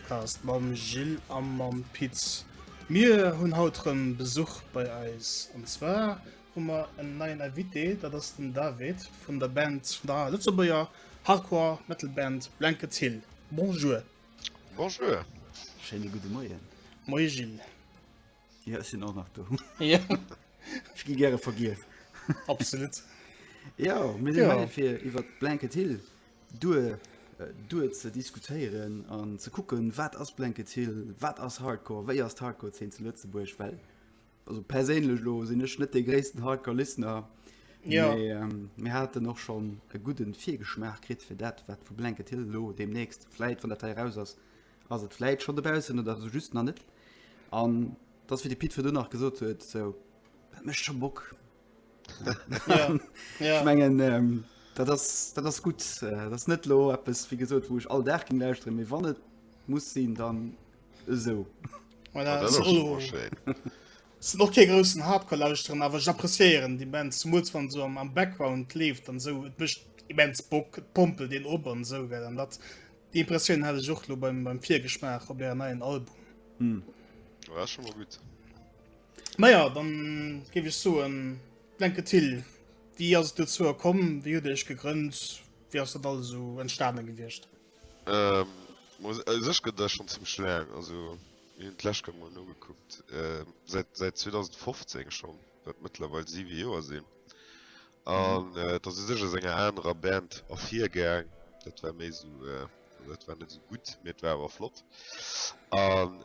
Podcast mam Gilles a mam Pit. Mir hunn haut erëm Besuch bei eis. An zwar hu mer en neien Invité, dat ass den David vun der Band, vun der Lëtzebuerger Hardcore Metal Band Blanket Hill. Bonjour! Bonjour! Schéine gudde Moien! Moie Gilles! Ja, ech sinn och nach do. Ja. Ech gi gäre vergiess. Absolut. Ja, mir sinn ja. hei fir iwwer Blanket Hill duer äh, duer ze diskutéieren an ze kucken, wat ass Blanket Hill, wat ass Hardcore, wéi ass Hardcore zeen ze Lëtzebuerg well. Also perélech lo sinn ech net de gréissten Hardcore Listener. Ja. Mir ähm, haten och schon e gudden Virgeschmaach krit fir dat, wat vu Blanket Hill lo demnächst fläit wann dat heraus ass. Ass et vläit scho dobaussen oder esou just nach net? An dass wéi de Pit virdu nach gesot huet, sou dat mécht scho Bock. Ja, ja. Ech mengen ähm, dat ass dat ass gutt. Äh, dat ass net lo eppes wéi gesot, wou ech all Dag ging lauschteren, mee wann et muss sinn, dann esou. Voilà, dat ass och super schéin. sind och kee groussen Hardcore lauschteren, awer ech appreciéieren déi Band zumools wann so am, am Background leeft an sou et mécht immens Bock, et pompelt een op an sou gell an dat Die Impressioun hat ech och lo beim, beim Virgeschmaach op der neien Album. Hm. Ja, schon mal gut. Naja, dann gebe ich so ein Blanke Till. Wie hast du zu kommen? Wie hat dich gegründet? Wie hast das alles so entstanden gewesen? Ähm, muss, also ich gehe da schon ziemlich lang. Also, ich habe das mal nur geguckt. Ähm, seit, seit 2015 schon. Wird mittlerweile sieben Jahre sind. An et ass u sech aus enger anerer Band ervirgaang. Dat war méi esou, also dat war net esou gutt, mee et war awer flott. An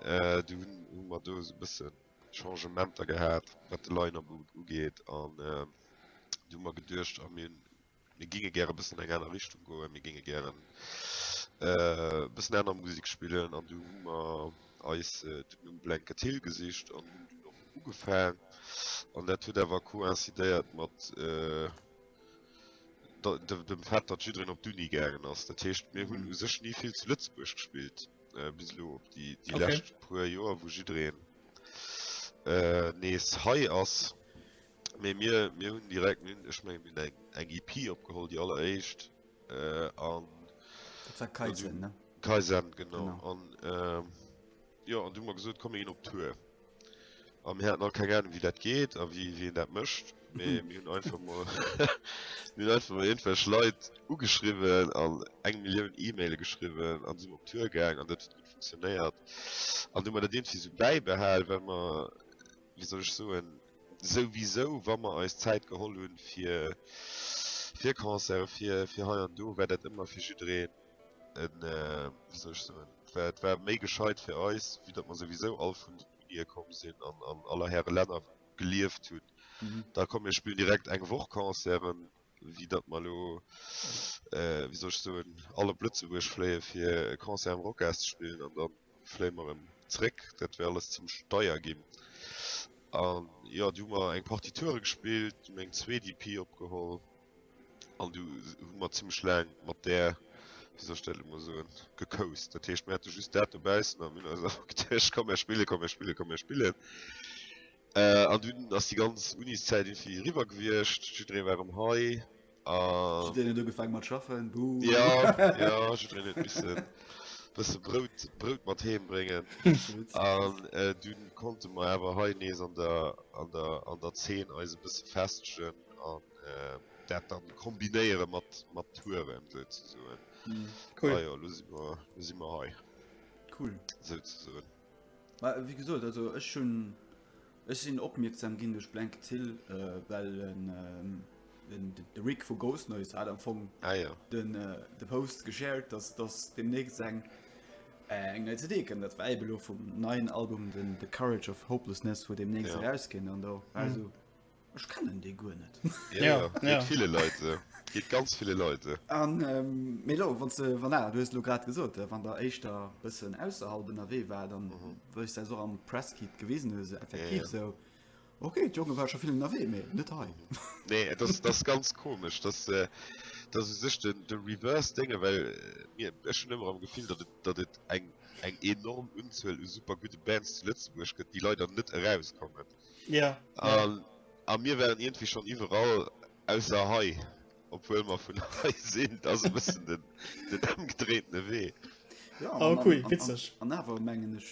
du hunn, hu mer do esou e bësse Changementer gehat, wat de Line-up ugeet. An du hu mer geduecht, a mir mir géinge gäre bëssen an eng aner Richtung goen, mir géinge gären e bëssen aner Musek spillen. An du hu mer eis dunn um Blanket Hill gesicht an hunn dunn och ugefaang an dat huet awer coïncidéiert mat dem Fait, datt jiddereen op d'Uni gaangen ass. Dat heescht, mir hunn u sech ni vill zu Lëtzebuerg gespillt bis elo op déi lescht puer Joer, wou jiddereen nees hei ass. Mee mir hunn direkt, ech menge mir hunn eng EP opgeholl, déi alleréischt. Äh, an. Dat war Kaizen, ne? Kaizen, genau. genau. An, ähm, ja, an du mal gesot, komm gin op Tour. Am Här nach keng Ahnung, wie dat geht, a wie, wie dat mëscht. Mee mir hunn einfach mal. mir hunn einfach mal irgendwelch Leit ugeschriwwen an eng Millioun E-Maile geschriwwen an sinn op Tour gaang an dat huet gut funktionéiert. An du mal dat irgendwie so bäibehal, well mer, wie soll ech soen, Souwisou, wa mer eis Zäit geholl hu fir Concerte, fir hei an do, war dat ëmmer fir jiddereen e, wéi soll ech soen, et war méi gescheit fir eis, vue datt mer souwisou all vun den Unië komm sinn an an aller Häre Länner gelieft hunn. Da komm mir spillen direkt eng Woch Concerten, wéi datt mer elo, wéi soll ech soen, all op Lëtzebuerg fléie fir e Concert am Rocas ze spillen an da fléie mer erëm zréck. Dat wär alles zimmlech deier ginn. An jo, du hu mer eng Partie Toure gespillt, du hu mer eng zweet EP opgeholl an du hu mer zimmlech laang mat där, wéi soll ech dat elo mol soen, gecoast. Dat heescht, mir hate just dat dobaussen a mir hunn eis einfach geduecht, komm mer spille, komm mer spille, komm mer spillen. An dunn ass déi ganz Uniszäit irgendwie eriwwer gewiescht. Jidderee war erëm hei a. Jiddereen huet ugefaange mat schaffen. Buuh. Jo, jo, jiddereen huet misse bësse Brout, Brout mat heem bréngen. An du konnte mer awer hei nees an der, an der, an der Zeen eis e bësse festegen an dat da kombinéiere mat, mat Touren souzesoen. Cool. Ajo, elo si mer, elo si mer hei. Cool. Souzesoen. Mä wéi gesot, also ech hunn, ech sinn opmierksam ginn duerch Blanket Hill, well de Rick vu Ghost Noise hat am Fong de Post geshared, datt datt deemnächst eng eng nei CD kënnt. Dat war eben elo vum neien Album, den The Courage of Hopelessness, wou deemnächst erauskennt. An do war esou. Ech kennen dee guer net. Ja, ja, ja. Geet ville Leit esou. Geet ganz ville Leit esou. An, ähm, mee elo, wann s de, wann a, du hues elo grad gesot, wann der éischter bëssen ausserhalb ënnerwee war, dann, mhm. wou ech säis och am Presskit gewisen hues, esou effektiv ja, ja. esou, okay, d'Jonge war scho vill ënnerwee, mee net hei. nee, et ass, ass ganz komesch, dass, äh, dass u sech de, de Reverse dénge, well äh, mir, ech hunn ëmmer am Gefill, datt et, datt et eng, eng enorm Unzuel u super gudde Bands zu Lëtzebuerg gëtt, déi leider net erauskommen. Ja. An, a mir waren iergendwéi schonn iwwerall, ausser hei, obwuel mer vun hei sinn. Dat ass e bëssen den, den ëmgedréintene Wee. Ja, Ah, cool, witzeg. An awer mengen ech,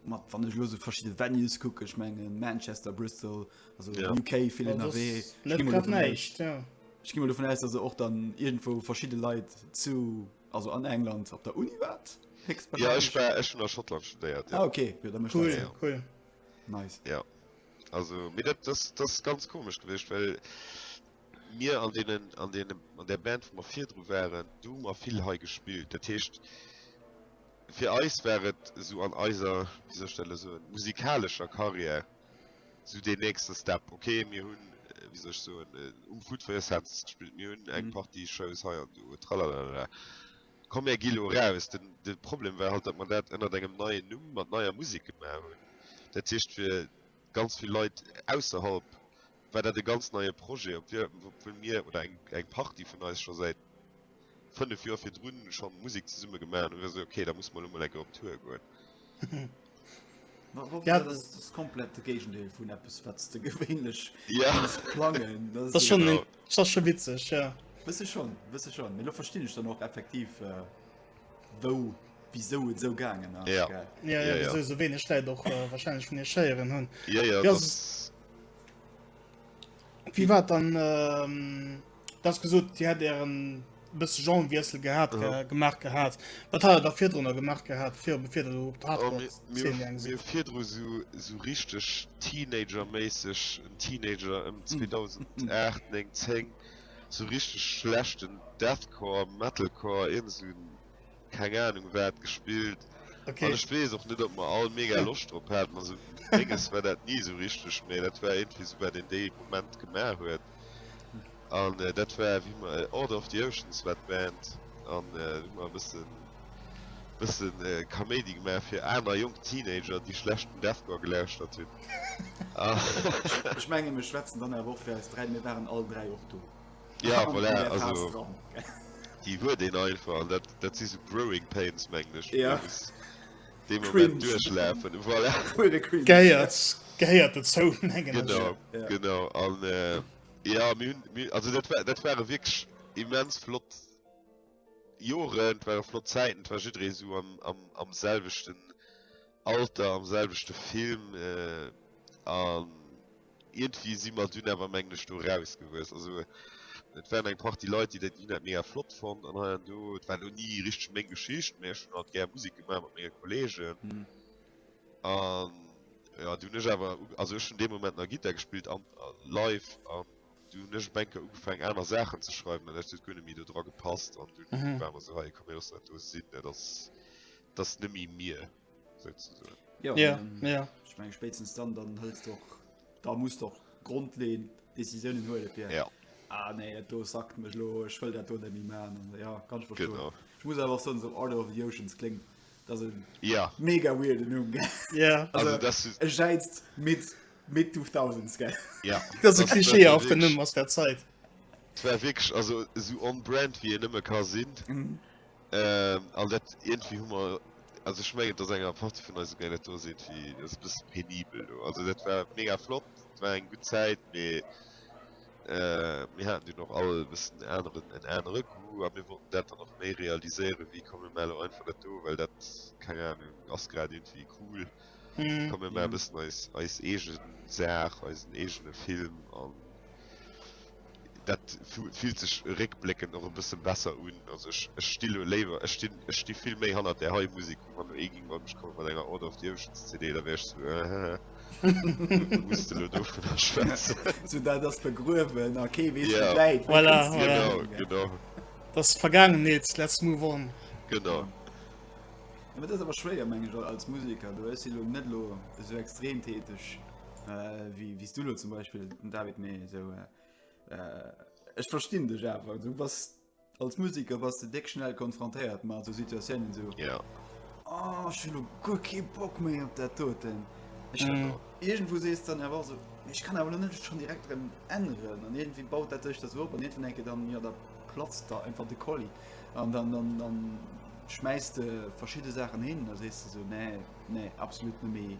mat wann ech elo sou verschidde Venues kucken, ech mengen Manchester, Bristol, also ja. UK vill ënnerwee. Net grad näischt, ja. Ech gi mol dovun aus, dass e och dann iergendwou verschidde Leit zu, also an England op der Uni waart. Ja, ech war, ech hunn a Schottland studéiert. Ja, ah, okay. Ja, cool, cool. Nice. Ja. Also, mir dat, das, das ist ganz komisch gewicht, well mir an denen, an denen, an der Band wo mer virdru waren, du mer vill hei gespielt. Dat heescht fir eis war et so an eiser dieser Stelle so musikalescher Karriere so den nächste Step. Okay, mir hunn äh, wie soll ich so äh, um Food for Your Senses gespielt, mir hunn eng mhm. Party Shows hei an du tralalala. Komm mär gi lo raus. De Problem war halt, datt mer dat ënnert engem neien Numm mat neier Musek gemaach hunn. Dat heescht fir ganz vill Leit ausserhalb war dat e ganz neie Projet, obwuel mir oder eng Partie vun eis scho säit 5 Joer virdrun scho Musek zesumme gemaach hunn. Hu mir gesot, ok, da musse mer elo mol eng Kéier op Tour goen. Ja, das ist komplett de Géigendeel vun Appppes wat de gewéinlech ja. plangen. Das, das, schon, genau. das schon witzeg ja. Wësse schon wësse schon Melo versti ich dann och effektiv äh, wou wieso et so gangen ja. ja, ja, ja, ja. So, so wenig Lei doch äh, wahrscheinlich vun Scheieren hunn. Ja, ja, ja, das... Wie war dann. Ähm... Das gesot Dir hätt Ären bësse Genrewiessel gehat Aha. ge gemaach gehat. Wat hat Der da virdrunner gemaach gehat, fir bevir Der op Oh, mir, mir, d'Hardrock-Szene gaange mir sidd? virdru so, so richteg Teenager-méisseg, en Teenager ëm 2008, 9, 10, so richteg schlechten Deathcore, Metalcore, iergend esou en keng Ahnung waat gespillt okay. an ech wees och net op mer all mega Loscht drop haten, also menges war daat nie esou richteg mee daat war iergendwéi esou waat een dee Moment gemaach huet an äh, daat war wéi mer äh, Order of the Oceans war d'Band an äh, wéi mer e bëssen bëssen äh, Kaméidi gemaach fir aner jonk Teenager déi schlechten Deathcore gelauschtert hunn. Ech menge mir schwätzen dann awer och fir eis dräi, mir waren all dräi och do. Ja, An voilà, Claire also Haas dran. déi huet een einfach an dat, dat si sou Growing Pains, mengen ech, Ja. déi muss dee Moment Cringe. duerchlafen. Voilà, Pure Cringe. Gehéiert, gehéiert dozou, mengen ech. genau, Ja. genau. An äh, jo, mir hunn, mir, also dat war, dat ware wierklech immens flott Joren, et ware flott Zäiten, et war jidderee sou am, am, am selwechten Alter, am selwechte Film äh, an Ierndwéi si mer dunn awer mengen ech do rausgewuess. Also et waren eng Partie Leit, déi dat Lidd mega flott fonnt an hei an do. Et war elo ni richteg meng Geschicht, mä ech hunn halt gär Musek gemaach mat menge Kolleegen. An jo, du hunn ech awer, also ech hunn dee Moment nach Gittar gespillt an live an du hunn ech op eng Kéier ugefaangen aner Saachen ze schreiwen an dat huet guer net méi do dra gepasst an dunn ware mer esou, hei komm mir loossen dat do sinn, dat ass, dat ass net méi mir. ja, ja, ähm, ja. ich mein, spätstens dann dann hältst doch da muss doch grundlehnen decisionen hol ja. ja. Ah, nee, do sagt mech lo ich will dat do mi man ja kann ich genau. ich muss einfach so so order of the oceans kling das ja mega weird nun ja also, also das ist scheizt mit mit 2000 ge ja das ist klischee auf der nummer aus der zeit war wirklich also so on brand wie ihr nimmer kann sind mhm. Ähm, an dat irgendwie hu mer also ich mengen dass enger Partie vun eise Gänger do sinn wie es bis penibel do also dat war mega flott war eng gut Zäit me äh, mir hatten du noch all bis den anderen en enere Goût a mir wollten dat dann noch méi realiséiere wie komme mer lo einfach net do well dat keng Ahnung ass grad irgendwie cool mm. komme mer mm. bis eis eis egen Saach eisen egene Film an dat fillt sech réckbléckend och e bësse besser un. Also ech, ech sti lo léiwer, ech sti, ech sti vill méi hannert där hei Musek. Wann lo ee géing bei mech komme mat enger Order of the Oceans CD, da wär ech sou, äh, hä hä, muss de lo dovunner schwätzen? Sou dat ass begruewen a kee weess, wou et läit. Voilà, voilà. Genau, genau. Dat ass Vergaangenheet, let's move on. Genau. Mä dat ass awer schwéier, meng ech, als Museker. Du, ech si lo net lo esou extrem täteg. Äh, wie wies du lo zum Beispiel den David méi so äh, äh, Ech verstin dech awer du was als Musiker was de deck schnell konfrontéiert mat so Situatiounen so Ja. Oh, ich hab guer kee Bock méi op dat doten. Ich Mhm. irgendwo sees dann er war so ich kann awer net schon direkt drin ändern an irgendwie baut dat dech das op an irgendwann enke dann ja da platzt da einfach de Kolli an dann dann dann schmeißt de verschiedene Sachen hin da sees du so nee nee absolut net méi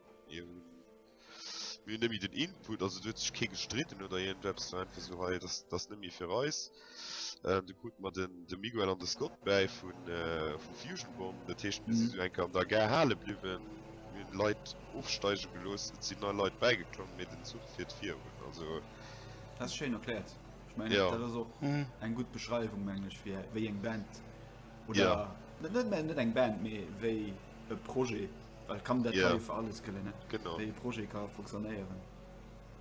Jo. Mir hunn nëmme den Input, also do huet sech kee gestritten oder iergendeppes, war einfach esou, hei, dass dass net méi fir eis. Äh, du krute mer den de Miguel an de Scott bäi vun äh, vu Fusion Bomb, dat heescht, mir si Mhm. sou enke an der Gare hale bliwwen, mir hunn Leit ofsteige gelooss, et sinn nei Leit bäigeklomm, mee den Zuch fiert virun. Also, Dat ass schéin erkläert. Ech mengen, Ja. dat ass och Mhm. eng gutt Beschreiwung, meng ech, fir wéi eng Band oder Ja. net, net, mä net eng Band, mee wéi e Projet, well kann dat yeah. fir alles gëllen net genau e Projet ka funktionéieren.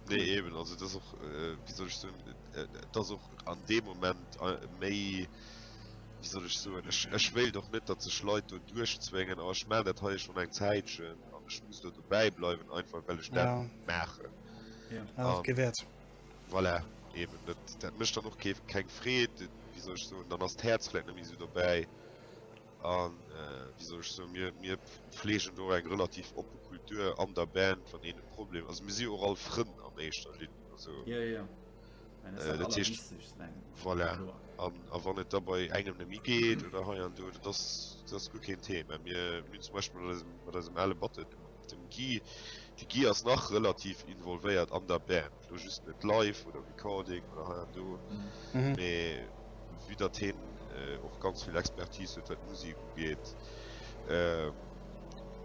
Nee cool. eben also dat och äh, wie soll ich so, äh, dat och an deem Moment äh, méi wie soll ich so ech, ech wéilt doch net dat ze schleit du duerchzwéngen a ech mal dat ha schon eng Zäitchen an ech muss dat dobäi bleiwen einfach well ech ja. dat mache ja. ja, um, gewährt. Voilà, eben dat, dat mischt dann noch keng Freet wie soll ich so dann ass d'Herzflecken wie so dobäi. A wéi soll ech soen, mir, mir pflegen do och eng relativ oppe Kultur an der Band, wann een e Problem, also mir si jo och all Frënn an éischter Linn, also. Jo, jo, mä dat ass dat Allerwichtegst, mengen ech. Voilà, an a wann et da bei engem net méi geet oder hei an do, dat ass, dat ass guer keen Thema. Mir, mir hunn zum Beispill mat eisem, mat eisem ale Batteur, dem Guy, de Guy ass nach relativ involvéiert an der Band. Elo just net live oder Recording oder hei an do, mee vu datt hien och ganz vill Expertise huet, wat d'Musek ugeet,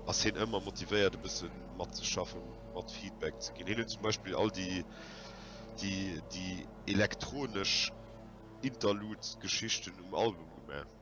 ass hien ëmmer motivéiert, e bësse matzeschaffen, mat Feedback ze ginn. Hien huet zum Beispill all déi elektronesch Interludes-Geschichten um Album gemaach.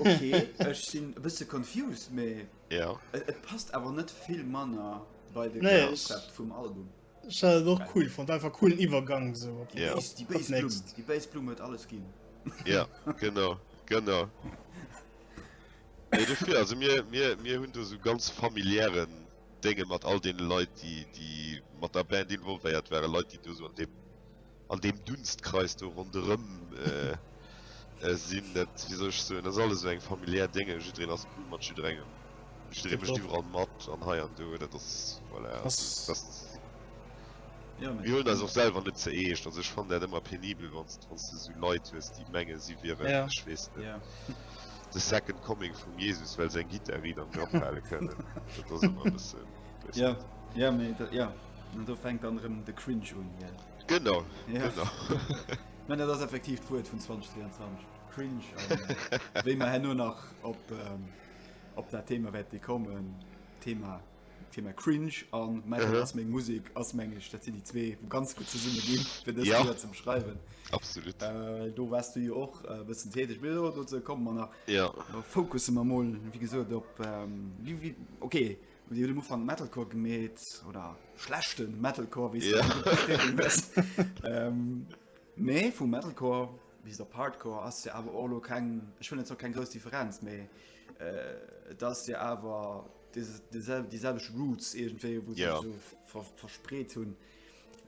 okay, ech sinn e bësse confused, mee ja. et, et passt awer net vill Manner bei de nee, Konzept vum Album. Ech hat et och cool fand, einfach coolen Iwwergang so op die ja. Bass, die Bass Blum, die Bass Blum huet alles ginn. ja, genau, genau. Nee, dofir, also mir, mir, mir hunn do so ganz familiären Dinge mat all den Leit, die, die mat der Band involvéiert waren, Leit, die do so an dem an deem Dunstkreis do ronderëm sinn, dat wéi soll ech soen, dat ass alles esou eng familiär Dénge, jiddereen ass cool mat jidderengem, jidderee mécht iwwerall mat an hei an do, dat ass voilà, dat mir huelen eis och selwer net ze eescht, also ech fannen dat ëmmer penibel, wann s du esou Leit hues, déi mengen, si wieren, ech weess net, the second coming vum Jesus, well se eng Gittar riit am Grapp hale kënnen, dat ass ëmmer e bëssen, weess net. Jo, jo, mee jo, do fänkt dann erëm de Cringe un. Genau, genau. Mä dat ass effektiv d'Wuert vun 2023, cringe. Wéi mer herno nach op, ähm, op dat Thema wäerte kommen, Thema, Thema cringe an mä Mhm. ass meng Musik ass meng ech, dat sinn déi zwee wou ganz gutt zesumme ginn, fir dës Ja. Lidder ze beschreiwen. Absolut. Äh, do waars du jo och e bëssen täteg. Mee do, dozou komme mer nach. Ja. Fokusse mer mol, wéi gesot, op, ähm, wie, wie, okay, Dir hutt um Ufank Metalcore gemeet oder schlechte Metalcore wéi méi ähm, vum Metalcore bis op Hardcore ass Dir awer Orlo keng Ech hunn net zo keng grouss Differenz méi äh, dats Dir awer déi selwech Roots egentéi wou yeah. so ver, verspreet hunn.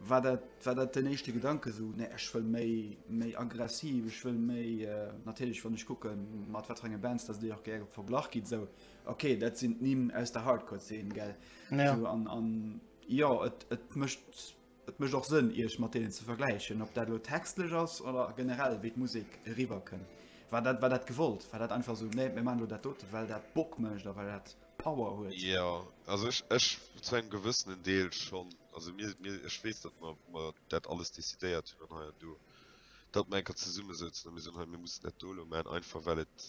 War dat, war dat den echte Gedanke so ne ech wëll méi méi aggressiv, ech wëll méi äh, natierlech wann ech kucken mat wat engen Bands, dats Dir och gär verglach gitt sou. Ok, dat sinn d'Nimm aus der Hardcore-Szene, gell? Ja. So, an, an ja, et, et mëscht et mëscht och Sënn, Iech mat deenen ze vergläichen, ob dat lo textlech ass oder generell, wéi d'Musek eriwwerkënn. War dat, war dat gewollt? War dat einfach so, nee, mir maachen lo dat dote, well dat Bock mécht a well dat Power huet? Ja, also ech, ech zu engem gewëssenen Deel schonn. Also mir, mir ech weess, datt mer, mer dat alles decidéiert hunn an hei an do. datt mer enker zesummesouzen a mir soen, hei mir mussen dat do elo maachen, einfach well et,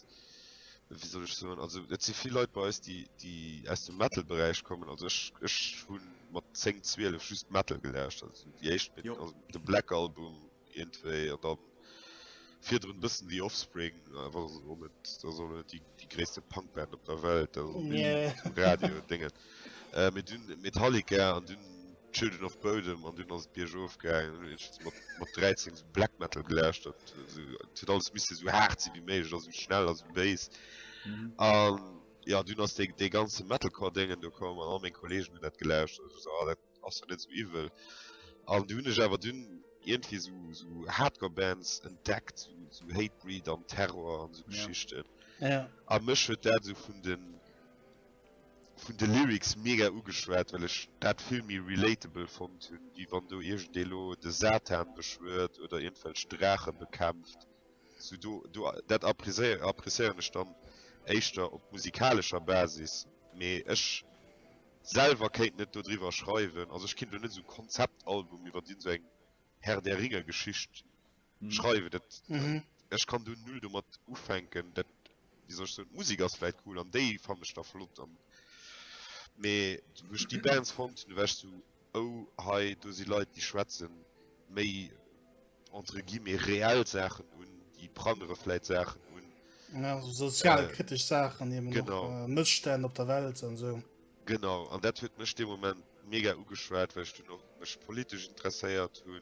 wéi soll ech soen, also et si vill Leit bei eis, déi déi aus dem Metal-Beräich kommen, also ech ech hu mat 10, 12 just Metal gelauscht, also sou déi éischt, Jo. also de Black Album iergendwéi an dann virdrun e bëssen The Offspring, awer och net, dat ass och net déi déi gréisste Punk-Band op der Welt, dat ass och net Nee. um Radio, Déngen. Äh mee dunn Metallica an dunn Children of Bodom an dunn ass et biergof gaangen. Dunn hunn ech mat mat 13 esou Black Metal gelauschtert. Esou et huet alles misste esou haart si wéi méiglech a sou schnell a sou béis. An jo dunn ass dee dee ganze Metalcore Déngen do komm an all meng Kollegen hunn dat gelauschtert. Ech esou ah dat ass jo net sou iwwel. An du hunn ech awer dunn iergendwéi esou esou Hardcore Bands entdeckt, esou esou Hatebreed an Terror an esou Geschichten. A mech huet dat esou vun den. vun de Lyrics mega ugeschwat, well ech dat vill méi relatable fonnt hunn, wéi wann do iergendee lo de Satan beschwuert oder iergendwelch Draache bekämpft. Sou do, do, dat appréciéieren ech dann éischter op musikalescher Basis, mee ech selwer kéint net dodriwwer schreiwen. Also ech kinnt lo net esou Konzeptalbum iwwert iergend sou eng Herr-der-Ringe-Geschicht. schreiwen dat mhm. ech kann du null du mat ufänken dat wie soch so musik ass vielleicht cool an déi fan ech da flott an me duch die bands von du wäschst du ou oh, hei du sie leid die schwätzen méi entre gi mir real sachen un die prangere vielleicht sachen un ja, so sozialkritisch äh, sachen eben genau noch, äh, missstellen op der welt an so genau an dat huet mech dem moment mega ugeschwert weil du noch mech politisch interesseiert hun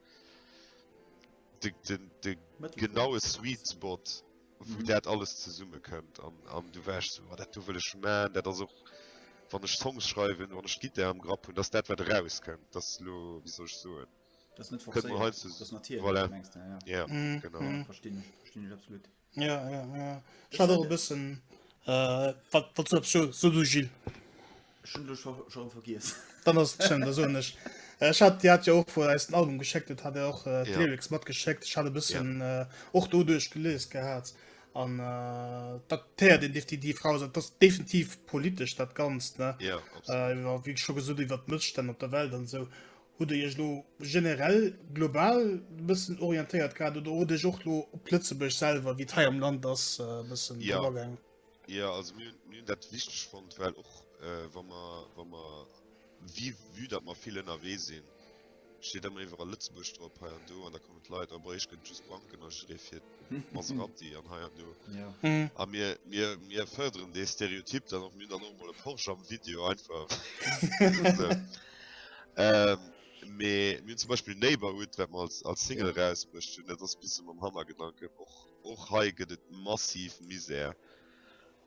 de, de, de genaue Sweet Spot, wou mhm. dat alles zesummekommt. An, an du wärst so, oh, dat du wëlech man, dat ass och wann ech Songs schreiwen, wann ech Gitter am Grapp hunn, dats dat wat rauskënnt, dat lo wéi soll ech soen. Dat net voilà. ja, ja. Mhm. Genau. Mhm. Verstinn ech, verstinn ech absolut. Ja, ja, ja. Ich hatte auch ein bisschen. Äh, was, was du so, so du Gilles? Schon, du schon, schon vergiss. Dann hast du schon, das so nicht. Äh, ich hatte, die hat ja auch vor als ein Album geschickt, das hat er auch äh, ja. Lyrics mitgeschickt. Ich hatte ein bisschen ja. äh, auch da durchgelesen gehabt. Und äh, das teer den die, die Frau sagt, das ist definitiv politisch, das Ganze. Ne? Ja, äh, wie schon gesagt, über die Missstände auf der Welt und so. Hutt Dir Iech elo generell, global e bëssen orientéiert gehat oder hutt Dir Iech och elo op Lëtzebuerg selwer, wéi et hei am Land ass, e bëssen drop agaangen? Jo, also mir hunn dat wichteg fonnt, well och wa mer, wa mer, vu vue datt mer vill ënnerwee sinn, steet ëmmer iwwerall Lëtzebuerg drop hei an do an da kommen d'Leit, a Bréisch gëtt et just Banken a jidderee fir. Maserati an hei an do. Ja. Hm. A mir, mir, mir förderen dee Stereotyp dann och mir dann och mal e Porsche am Video einfach. ähm, mir, mir zum Beispiel Neighborhood, wat man als, als Single ja. rausbrucht hun, dat ass bisse mam Hammergedanken. Och, och hei gëtt et massiv Misär.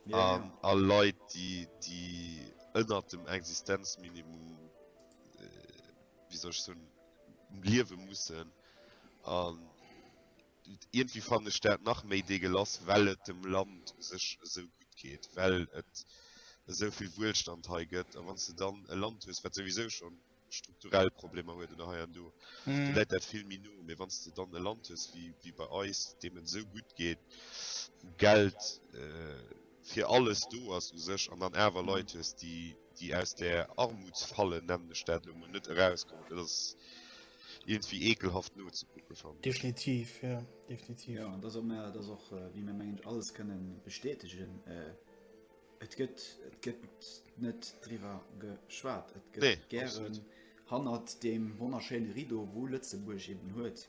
Ja, um, ja. A Leit, die, die ënner dem Existenzminimum, äh, wie soll ich so, liewe mussen. Um, Ierndwéi fannen ech dat nach méi degelass, well et dem Land u sech esou gutt geet, well et esou vill Wuelstand hei gëtt. A wann s de dann e Land hues, wat souwisou scho strukturell Problemer huet oder hei an do, da läit dat vill méi no. Mee wann s de dann e Land hues wéi bei eis, deem et esou gutt geet, wou Geld, fir alles do ass u sech an dann awer Leit hues, déi déi aus där Armutsfalle, nennen ech dat elo mol, net erauskommen. Dat ass iergendwéi eekelhaft nozekucke, fannen ech. Definitiv, jo, definitiv. Jo, an dat ass och, mä dat ass och, wéi mir, mengen ech, alles kënne bestätegen, et gëtt, et gëtt net driwwer geschwat. Et gëtt gären hannert deem wonnerschéine Rideau, wou Lëtzebuerg eben huet,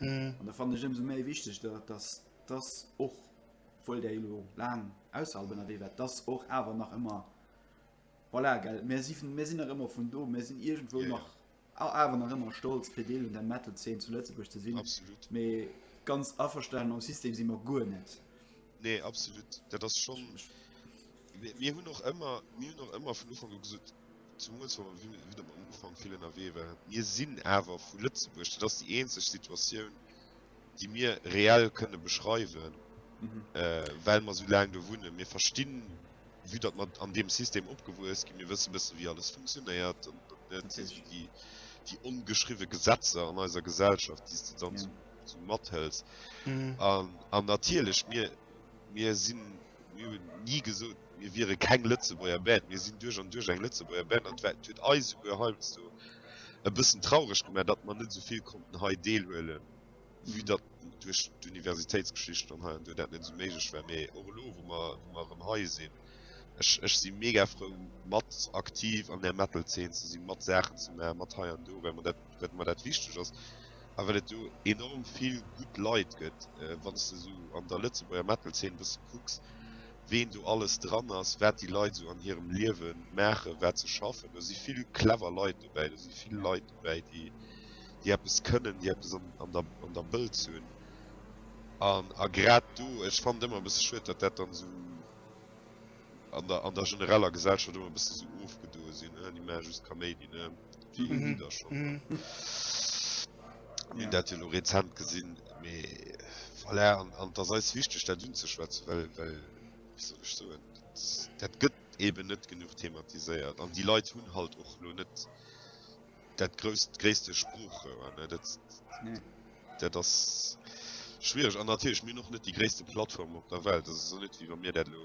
An da fannen ech ëmsou méi wichteg, dass dass och, obwuel Der elo laang ausserhalb ënnerwee waart, dass och awer nach ëmmer, voilà, gell, mir si, mir sinn nach ëmmer vun do, mir sinn iergendwou nach awer nach ëmmer stolz, fir Deel un der Metal-Zeen zu Lëtzebuerg ze sinn. Absolut. Mee ganz averstane mam System si mer guer net. Nee, absolut. Dat ass schonn, mir hunn och ëmmer, mir hunn och ëmmer vun Ufank u gesot, Zumools wa mer widder mam Ufank vill ënnerwee waren. Mir sinn awer vu Lëtzebuerg, dat ass déi eenzeg Situatioun, déi mir reell kënne beschreiwen, well mer esou laang do wunnen. Mir verstinn, vue datt mer an deem System opgewuess ginn, mir wësse bëssen, wéi alles funktionéiert. Dat si sou déi ongeschriwwe Gesetzer an eiser Gesellschaft, déi s de dann sou mathëls. An natierlech, mir sinn, mir hunn ni gesot, Mir wiere keng Lëtzebuerger Band. Mir sinn duerch an duerch eng Lëtzebuerger Band. An d'wäit huet eis souguer heiansdo e bëssen traureg gemaach, datt mer net esou vill konnten hei deelhuelen, vue datt duerch d'Universitéitsgeschicht an hei an do dat net esou méiglech war. Mee och elo, wou mer, wou mer erëm hei sinn, ech, ech si mega frou, mat aktiv an där Metal-Zeen ze sinn, mat Saachen ze maachen, mat hei an do, well mer dat, well mer dat wichteg ass a well et do enorm vill gutt Leit gëtt. Wann s de esou an der Lëtzebuerger Metal-Zeen e bësse kucks, ween do alles dran ass, wat déi Leit esou an hirem Liewe maachen, wat se schaffen. Do si vill clever Leit dobäi. Do si vill Leit dobäi, déi, déi eppes kënnen, déi eppes an, an der, an der Bëlz hunn. An, a grad do, ech fannen et ëmmer e bësse schued, datt dat dann esou an der, an der genereller Gesellschaft ëmmer e bësse esou ofgedoe sinn, Hein, déi maache just Kaméidi, ne? Déi un déi der schon. Hun dat jo lo rezent gesin mee voilà an dass eis wichteg dat un ze schwätzen well well wéi soll ech soen dat gëtt eben net genuch thematiséiert an déi Leit hunn halt och lo net dat grousst gréisste Sproochrouer ne dat nee. dat ass schwierig an natierlech mir noch net déi gréisste Plattform op der Welt dat ass net wéi wa mir dat lo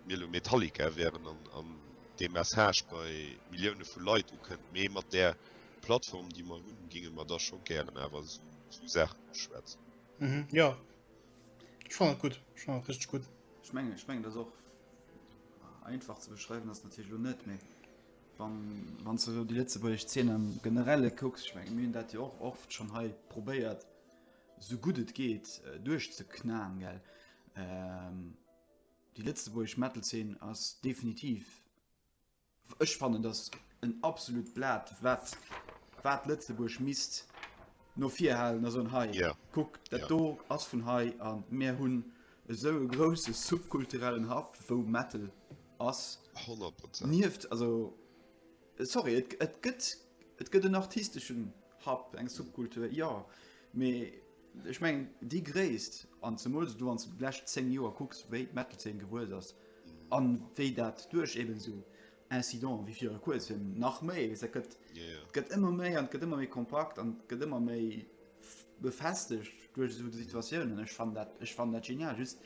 Mir elo Metallica wären an dee Message bei Millioune vu Leit ukënnt, mee mat där Plattform, déi mer hunn, géinge mer da scho gären awer esou Saachen uschwätzen. Jo, ech fannen et gutt, ech fannen et richteg gutt. Ech mengen, ech mengen, et ass och einfach ze beschreiwen, ass natierlech elo net, mee wann, wann s de elo déi lëtzebuergesch Zeen am Generelle kucks, ech mengen, mir hunn dat jo och oft schonn hei probéiert, esou gutt et geet, duerchzeknaen, gell. Déi lëtzebuergesch Metal-Zeen ass definitiv, ech fannen, dass en absolut Blat, wat wat Lëtzebuerg misst no vir halen a soen, hei, kuck, dat do ass vun hei a mir hunn esou e grousse subkulturellen Haff, wou Metal ass. Honnert Prozent. Nieft, also. Sorry, et gëtt, et gëtt en artisteschen Hub, eng Subkultur, jo, mee ech mengen déi Gréisst, an zemools elo wann s de déi lescht 10 Joer kucks, wéi d'Metal-Zeen gewuess ass a wéi dat duerch eben esou Incidenten wéi viru Kuerzem, nach méi, weess, dat gëtt, et gëtt ëmmer méi an et gëtt ëmmer méi kompakt an et gëtt ëmmer méi befestegt duerch esou Situatiounen. Ech fannen dat, ech fannen dat genial, just,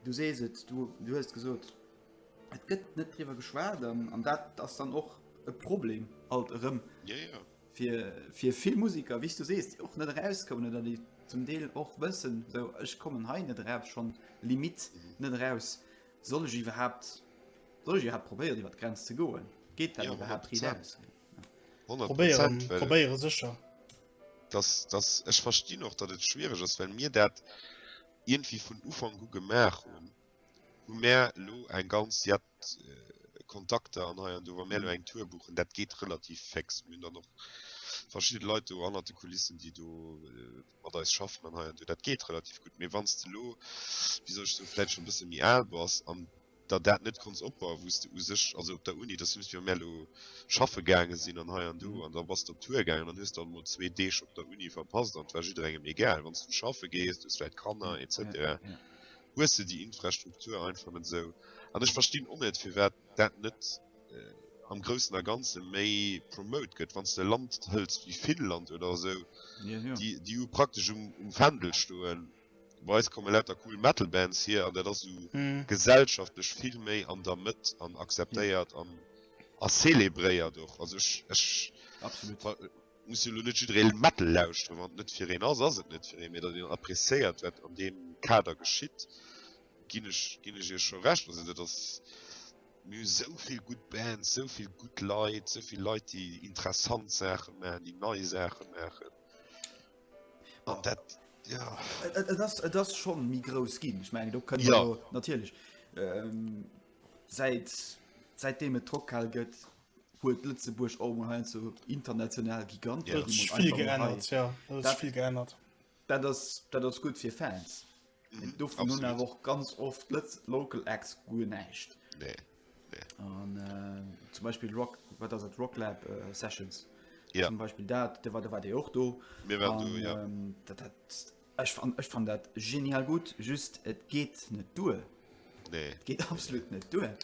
Du sees et, du hues et gesot, et gëtt net driwwer geschwat an dat ass dann och e Problem alt erëm fir vill Musiker, wéi s du sees, déi och net erauskommen oder déi zum Deel och wëssen, esou, ech kommen hei net eraf, schonn d'Limitt net eraus. Soll ech iwwerhaapt, soll ech iwwerhaapt probéieren iwwer d'Grenz ze goen? Geet dat iwwerhaapt dri lass? Probéieren, probéiere sécher. Ech verstinn och, datt et schwiereg ass, well mir dat, ierndwéi vun Ufank u gemaach hunn, hu mär elo eng ganz jett Kontakter an hei an do. Wa mär elo eng Tour buchen, dat geet relativ féx. Mir hunn dann och verschidde Leit do hannert de Kulissen, déi do mat eis schaffen an hei an do. Dat geet relativ gutt. Mee wann s de elo, wéi soll ech soen, vläicht scho e bësse méi al bass an, der dat net konns opbauen wous de u sech also op der Uni dass just wéi mär lo schaffe gaange sinn an hei an do an da bass de op Tour gaangen an hues dann mol zwee Deeg op der Uni verpasst an et war jidderengem egal wann s du schaffe gees du hues vläit Kanner etc hues de déi Infrastruktur einfach net esou an ech verstinn och net firwat dat net am groussen a ganze méi promote gëtt wann s de e Land hëls wéi Finnland oder esou déi déi praktesch um um Fändel stoen. Bei eis komme lauter cool Metal Bands hier an dat ass esou gesellschaftlech vill méi an der Mëtt an akzeptéiert an a célébréiert och. Also ech ech muss jo elo net jiddereen Metal lauschteren, wann et net fir een ass, ass et net fir een, mee datt een appréciéiert wat an deem Kader geschitt ginn ech ginn ech iech scho Recht. Also dat ass, mir hu sou vill gutt Bands, sou vill gutt Leit, sou vill Leit déi interessant Saache maachen, déi nei Saache maachen. Bon, dat, ja. Et ass, et ass schon méi grouss ginn. Ech meng do kënne ja. natierlech ähm, säit säitdeem et Trockhal gëtt, huet Lëtzebuerg och mol hein zu international Gigant ja, vill geännert. Ja, dat vill geännert. Dat ass, dat ass gut fir Fans. Mhm, do vun hun awer och ganz oft Lëtz Local Acts guer näischt. Nee. an äh, zum Beispiel Rock wat ass et Rocklab äh, Sessions ja. zum Beispiel dat de war de war de och do mir waren do ja ähm, dat hat ech fan ech fan dat genial gut just et geht net duer nee et geht absolut net duer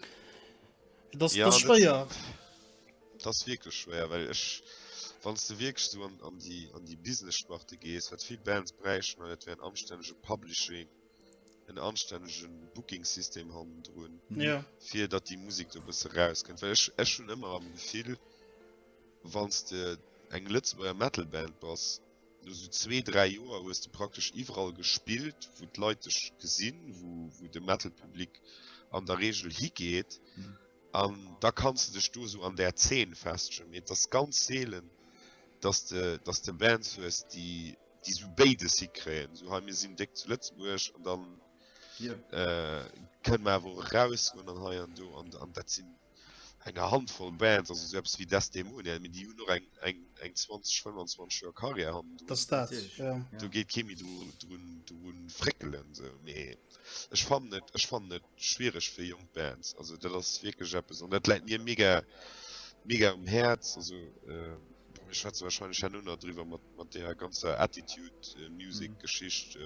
das ja, das schwéier das wirklich schwer well ech wann du wirklich so an, an die an die business sparte gees wat viel bands brechen an et wären anstännege publishing en anstännegen Booking System han droen ja. fir dat die Musik do bësse rauskennt well ech ech hun ëmmer am Gefill wanns de eng Lëtzebuerger Metal Band bass no so zwee dräi Joer hues du praktesch iwwerall gespielt wo d'Leit dech gesinn wo wo de Metal Public an der Regel higeet mhm. an mhm. da kannst du dech do so an der 10 festschen et das ganz seelen dass de dass de Bands hues die déi sou béides hikréien, sou hei mir sinn déck zu Lëtzebuerg an dann kënne mer awer och erausgoen an hei an do an dat sinn enger Handvoll Bands, also sou eppes wéi Desdemonia, mee déi hunn och eng eng eng 20, 25 Joer Karriär hannendrun. Dat ass dat, jo. Do geet kee méi dru fréckelen sou. Mee ech fannen et, ech fannen et schwiereg fir jonk Bands. Also dat ass wierklech eppes an dat läit mir mega mega um Häerz. Also mir schwätze warscheinlech herno nach driwwer mat. mat deeër ganzer Attitude Music Geschicht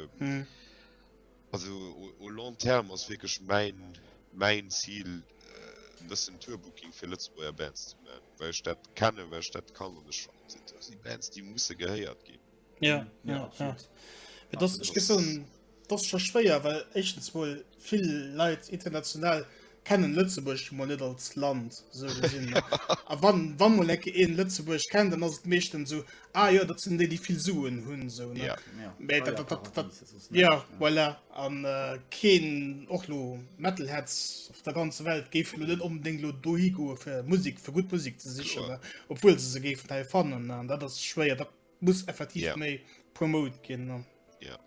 also au long terme ass wierklech mäin mäin Zil e bëssen Tour Booking fir Lëtzebuerger Bands ze man, well ech dat kennen, well ech dat kann an ech fannen dat ass déi Bands déi musse gehéiert ginn. Jo, jo, jo. Ech gëtt soen D'ass scho schwéier, well éischtens mol vill Leit international kennen Lëtzebuerg mol net als Land sou gesinn. A wann wann mol ecke een Lëtzebuerg kennt, dann ass et meeschten sou, ah jo, dat sinn déi déi vill Suen hunn sou ne. Ja. Mee dat dat dat dat ja voilà an keen och lo Metalheads op der ganzer Welt géifen lo net onbedéngt lo dohi goe fir Musek fir gutt Musek ze sichen ne, obwuel se se géifen hei fannen ne. An dat ass schwéier, dat muss effektiv yeah. méi promote gin ja yeah.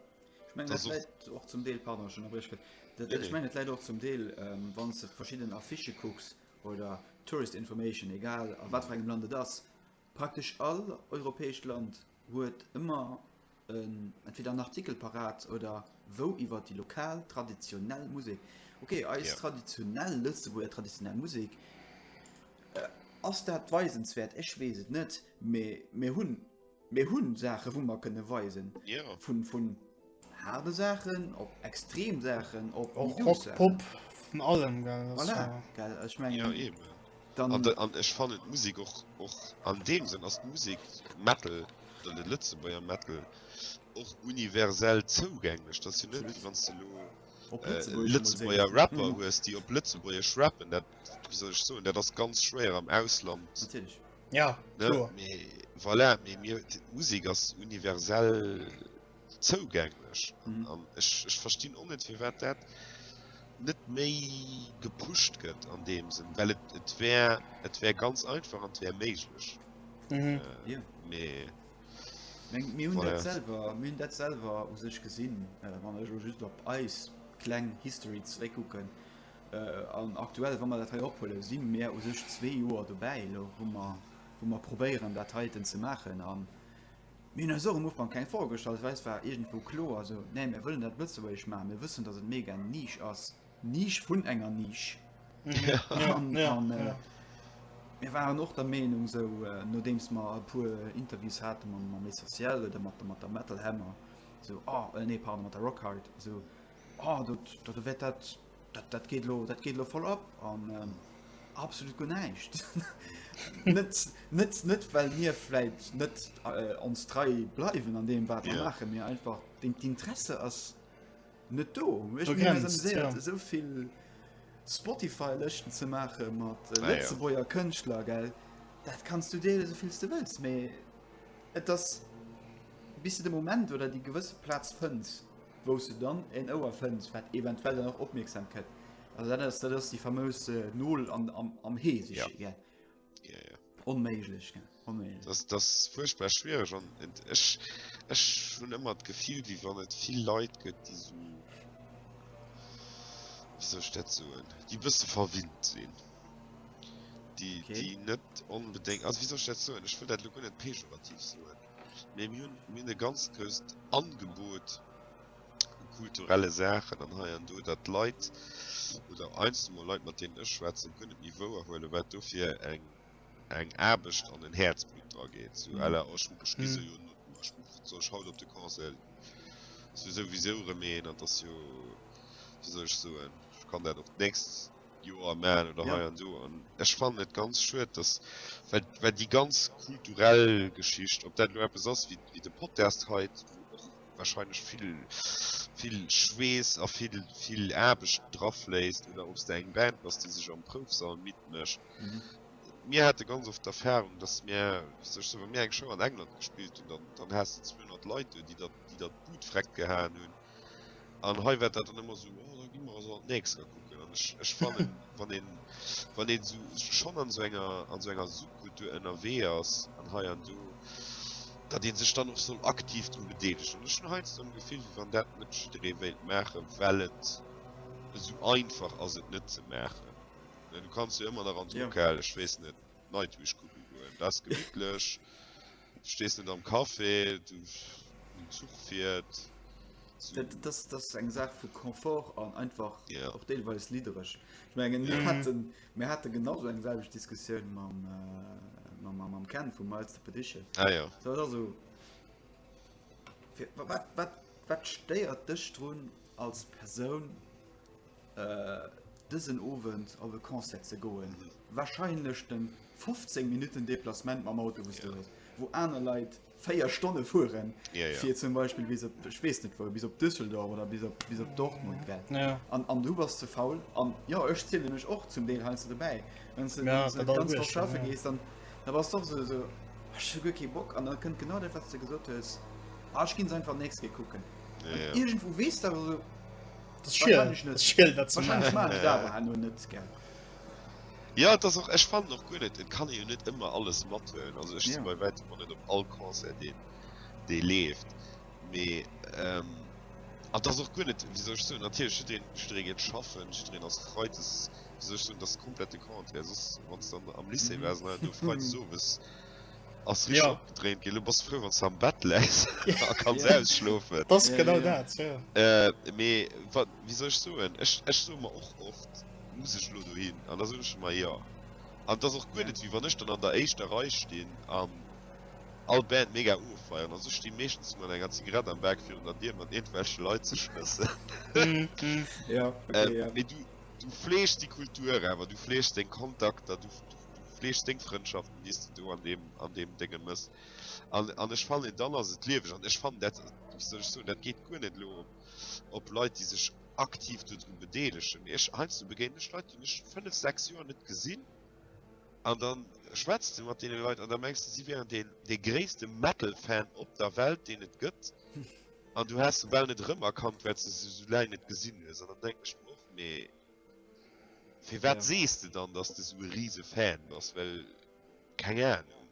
ich mein, das das auch zum Deel pardon schon erbrich dat, ich mein, leider auch zum Deel ähm, wann du verschiedenen Affiche kucks oder tourist information egal an wat engem lande das praktisch all europäisch Land huet immer ähm, entweder einen Artikel parat oder wo iwwer die lokal traditionell Musik okay als yeah. traditionell Lützeburger traditionell Musik äh, ass dat weisenswert ech wees net Mee mir hunn, mir hunn Saachen, wou mer kënne weisen, vun haarde Saachen, op extrem Saachen, op douce Saachen. Voilà, gell, ech mengen. Jo, eben. An ech fannen d'Musek och, och an deem Sënn ass d'Musek, Metal, oder de Lëtzebuerger Metal, och universell zougänglech. Dat ass jo net, wann s de elo Lëtzebuerger Rapper hues, déi op Lëtzebuergesch rappen, dat, wéi soll ech soen, dat ass ganz schwéier am Ausland. Ja, klar. Mee, voilà, mee mir, Musik ass universell zougänglech. Mhm. An ech, ech verstinn och net, fir wat dat net méi gepusht gëtt an dem Sinn, well et, et wär, et wär ganz einfach an wär méiglech. Mhm. Äh, yeah. Mee. Mir hunn dat selwer mir hunn dat selwer u sech gesinn, äh, wann ech just op eis kleng History zréck kucken. An aktuell, wa mer dat hei ophuelen, si mer u sech zwee Joer dobäi elo, wou mer, wou mer probéieren, dat heiten ze maachen. A mir hunn eis och am Ufank keng Froe gestallt, well eis war iergendwou kloer, also, nee, mir wëllen dat lëtzebuergesch maachen, mir wëssen, datt et mega eng Niche ass, Niche vun enger Niche. An mir waren och der Meenung, esou nodeems mer e puer Interviews hate mam Essentiel oder mat der Metal Hammer, esou, oh, nee, pardon, mat der Rockhard, esou, Oh, dat, dat, dat, dat, dat, dat geet lo, dat geet lo voll ab an ähm, absolut go näischt. net, net, net, well mir fläit net äh, ons trei bleiwen an dem wat yeah. mache mir einfach den Interesse ass net do. Ech okay, mir sehr, ja. soviel Spotify lechten ze mache mat äh, ah, Lëtzebuerger ja. Kënchtler gell. Dat kannst du dee soviels du wëlls méi. Et ass bis de Moment oder déi gewësse Platz fënns. wous de dann en Ouer fënns, wat eventuell dann och opmierksam kënnt. Also dat ass, dat ass déi famös äh, Nol an, am, am Hee sech ja. gell. Ja, ja. Onméiglech, gell. Onméiglech. Das, das furchtbar schwierig an ech, ech hun ëmmer d'Gefill, wie wann et vill Leit gëtt, die so wieso dat soen die bësse verwinnt sinn die, okay. die net onbedéngt also wieso dat soen ech will dat lo net pejorativ soen Mee mir hunn, mir hunn e ganz grousst Angebot u kulturelle Saachen an hei an do, dat Leit oder einzel mol Leit, mat deenen ech schwätzen, guer net méi wouer huelen, wat do fir eng eng Aarbecht an en Häerzblutt dra geet. So à la, oh ech ech gi soujo no, ech soll ech haut op de Concert, ass jo souwisou erëm een an 't ass jo, wéi soll ech soen, ech kann dat och d'nächst. Joer man oder hei an do an ech fannen et ganz schued dass well well déi ganz kulturell Geschicht op dat lo eppes ass wéi wéi de Podcast heit wahrscheinlech vill vill Schweess a vill vill Aarbecht drauf léisst oder obs de eng Band bass déi sech am Proufsall midd mécht. Mir hate ganz oft d'Erfahrung dass mir wéi sech se wa mir eng Show an England gespillt hunn dann dann has de 200 Leit do déi dat déi dat Boot vreckt gehaen hunn. An hei wärt dat dann ëmmer sou, oh da gi mer also an d'nächster kucken. An ech, ech fannen, wann een, wann een sou schonn an sou enger, an sou enger Subkultur ënnerwee ass an hei an do, datt ee sech dann och soll aktiv dru bedeelegen. An ech hunn heiansdo am Gefill, wéi wann dat net jidderee wéilt maachen, well et esou einfach ass et net ze maachen. Du kanns jo ëmmer nach an sou, Jo. okay, ech weess net, Nightwish kucke goen, dat ass gemittlech. Du stees net am Café, du den Zuch fiiert. Das ass eng Saach vu Confort an einfach yeah. och deelweis lidereg. Ich mein, mir hatten, mir hatte genau eng selg Diskussioun mam, äh, mam, mam, mam Ken vum Malste Pedische. Ah, ja. also, wat, wat, wat stéiert dech drun als Persoun dësen Owend op e Concert ze goen, wahrscheinlech de 15 Minutten Deplacement mam Auto wou yeah. wo aner Leiit 4 Stonne fuhren yeah, yeah. zum Beispiel bis op, ich weiß nicht, wo, bis op Düsseldorf oder bis op, bis op Dortmund yeah. an, an du warst ze faul an ja ech ziele mech och zum Deel heinsst dabei wenn du ja, ganz ja. schaffen gehst dann da warst doch so, so kein Bock an dann könnt genau der was du gesucht hast ah, ich ging einfach nächste gucken yeah, yeah. irgendwo west aber so Ja dat och ech fan och gun net et kann jo net ëmmer alles mat hunn also ech bei wä man net op all Konse de dee leeft mee ähm, an dat och gun net wieso ech so natierch den Streget schaffen drin ass freides sech hunn das komplette Kont wann dann am Lycée war du frei sowes. Ass richteg ja. opgedréint ginn. Lo bass de frou, wann s de am Bett läis a kanns ja. ausschlofen. Dat ass genau dat, ja. Äh, mee wa, wéi soll ech soen? Ech, ech soe mer och oft, muss ech elo dohin? An da soen ech ëmmer jo. An et ass och guer net, wéi wann ech dann an der éischter Rei stinn an all Band mega ofeieren. Also ech sti meeschtens mat enger Zigarett am Bak virun der Dier, mat iergendwelche Leit ze schmëssen. Mhm, mhm. Ja, okay, ähm, ja. Mee du, du fleegst déi Kultur awer, du fleegst deng Kontakter, du, du fleegt seng Frëndschaften déi s de do an deem an deem Dénge mëss an an ech fannen dann ass et lieweg an ech fannen dat wéi soll ech soen dat geet guer net elo op Leit déi sech aktiv dodru bedeelegen mee ech heiansdo begéinen ech Leit déi ech 5, 6 Joer net gesinn an dann schwätzt de mat deene Leit an da mengs de si wieren deen dee gréisste Metal-Fan op der Welt deen et gëtt an du häss se bal net erëmerkannt well s de se sou laang net gesinn hues an dann denken ech mer och mee. Firwat sees de dann dass de sou e riise Fan bass? Well keng Ahnung,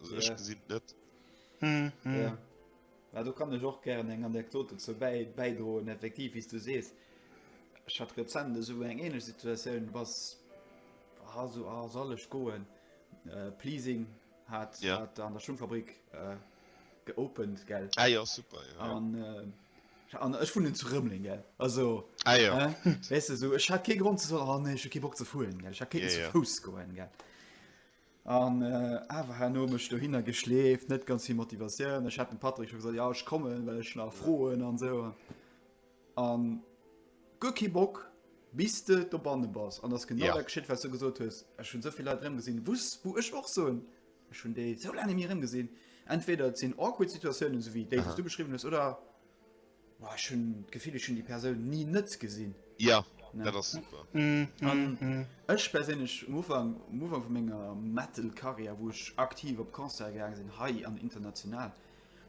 also ech gesinn et net. Well do kann ech och gären eng Anekdot dozou bäidroen. Effektiv wéi s du sees, ech hat rezent esou eng ähnlech Situatioun, et ass ha sou a sall ech goen? Pleasing hat an der Schungfabrik geopent gell? Ah jo super jo. An ech wunnen zu Rëmling, gell? Also, ah, ja. äh, weißt du, so, ich hatte keinen Grund zu sagen, oh, nee, ich habe keinen Bock zu fuhren, gell? Ich hatte keinen ja, zu ja. Fuß gehen, gell? Und äh, einfach habe ich mich dahinter geschläft, nicht ganz viel Motivation. Ich hatte Patrick schon gesagt, ja, ich komme, weil ich nach frohen und so. Und gut keinen Bock, bis du da bannen bist. Und das genau ja. das geschieht, was du gesagt hast. Ich habe so viele Leute drin gesehen, wo ich auch so, Ech hunn déi sou laang net méi erëmgesinn. Entweder et sinn awkward Situatiounen, esou wéi déi, déi s du beschriwwen hues, oder ech hunn d'Gefill, ech hunn déi Persoun ni net gesinn. Jo, dat ass super. Ech perséinlech, um Ufank, um Ufank vu menger Metal-Karriär, wou ech aktiv op Concerte gaange sinn, hei an international,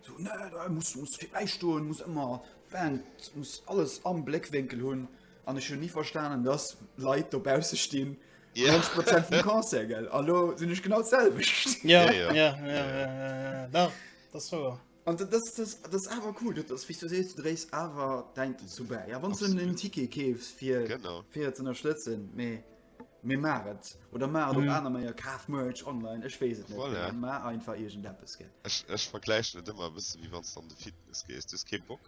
sou, ne, du muss, muss virbäi stoen, muss ëmmer d'Band, muss alles am Bléckwénkel hunn. An ech hunn ni verstanen, dass Leit dobausse stinn Ja. 90 Prozent vum Concert, gell? An lo sinn ech genau d'selwecht. Ja, Ja, ja, ja. ja, ja, ja, ja, ja, ja. Da, das ist wahr. An dat ass, das, das ass awer cool, dat ass, wéi du sees, du dréis awer däin dozou bäi. Ja, wann du Absolut. en Ticket keefs, fir Genau. fir ze ënnerstëtzen, mee mir mar et. Oder mar et op Mhm. aner Meier, kaf Merch online, ech weess et net. Voilà. Mar einfach iergendeppes, gell? Ech, ech vergläichen et ëmmer e bësse wéi wann s du an de Fitness gees. Du hues kee Bock,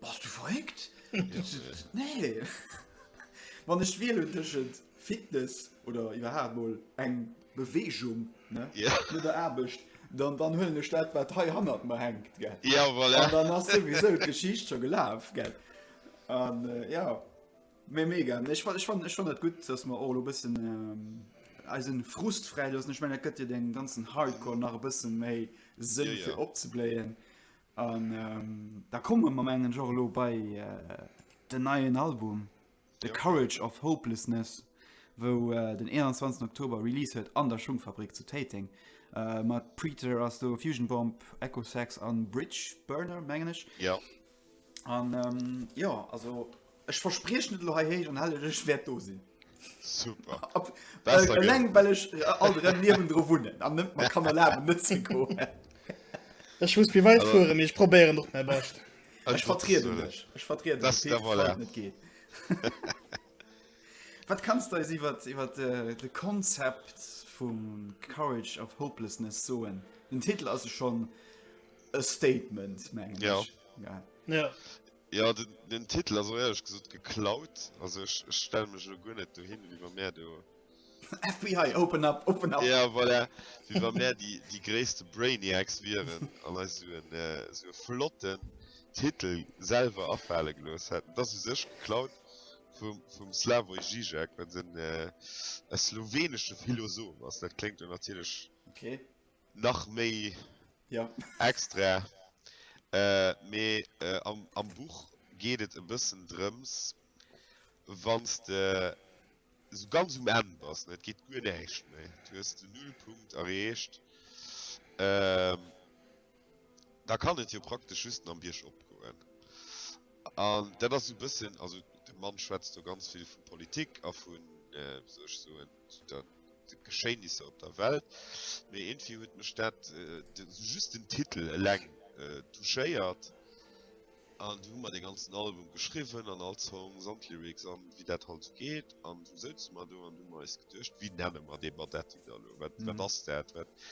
Bass du verréckt? Nee! Wann ech wielen tëschent Fitness oder iwwerhaapt mol eng Beweegung, ne? Ja. No der Aarbecht, dann, dann huelen ech dat, wat hei hannert mer hänkt, gell? Ja, voilà. An dann ass souwisou d'Geschicht scho gelaf, gell? An ja, mee mega. Ech fan, ech fan, ech fann dat gutt, dass mer och elo e bëssen eisen Frust fräi loossen. Ech mengen, dat gëtt jo deem ganzen Hardcore nach e bësse méi Sënn, fir opzebléien. An da komme mer mengen Jo lo bei den neien Album The Courage of Hopelessness, wou den 21 Oktober Release huet an der Schungfabrik zu Téiteng. Äh, mat Preater ass do Fusion Bomb, Echo Sax an Bridge Burner mengen ech. Ja. An ähm, jo also Ech verspriechen et elo hei héich an hellech, ech wäert do sinn. Super. Ab, äh, eleng well ech äh, alt rem niwen dro wunnen an net man kann erlaben net ze go. Ech muss mir weit fuere mir ech probéieren noch mei bascht. Ech vertrieden lech Ech vertrieden das der voilà. net geet. Wat kannst deis iwwer iwwer äh, de Konzept vum Courage of Hopelessness soen? Den Titel ass schon e Statement mengen. Ja. ja. ja. Jo den Titel ass och ehrlech gesot geklaut, also ech stelle mech elo guer net dohin wéi wa mär do. FBI open up, open up! Ja voilà, wéi wa mär déi déi gréisste Brainiacs wieren an eis esou en esou e flotten Titel selwer afale gelooss hätten. Et ass u sech geklaut vum vum Slavoj Žižek, wat en e slowenesche Philosoph ass, dat kléngt jo natierlech. Okay. nach méi extra mee am Buch geet et e bëssen drëms wann s de sou ganz um Enn bass an et geet guer näischt méi, du hues den Nullpunkt erreecht, da kann et jo praktesch just nach biergop goen. An dat ass sou e bëssen, also de Mann schwätzt do ganz vill vu Politik a vun, wéi soll ech soen, der de Geschéinisser op der Welt, mee eentvie huet mech dat just den Titel eleng touchéiert an du hu mer de ganzen Album geschriwwen an all Song samt Lyrics an wéi dat halt sou geet an du souze mer do an du mer eis geduecht wéi nenne mer dee Badetti da lo wat wat ass dat wat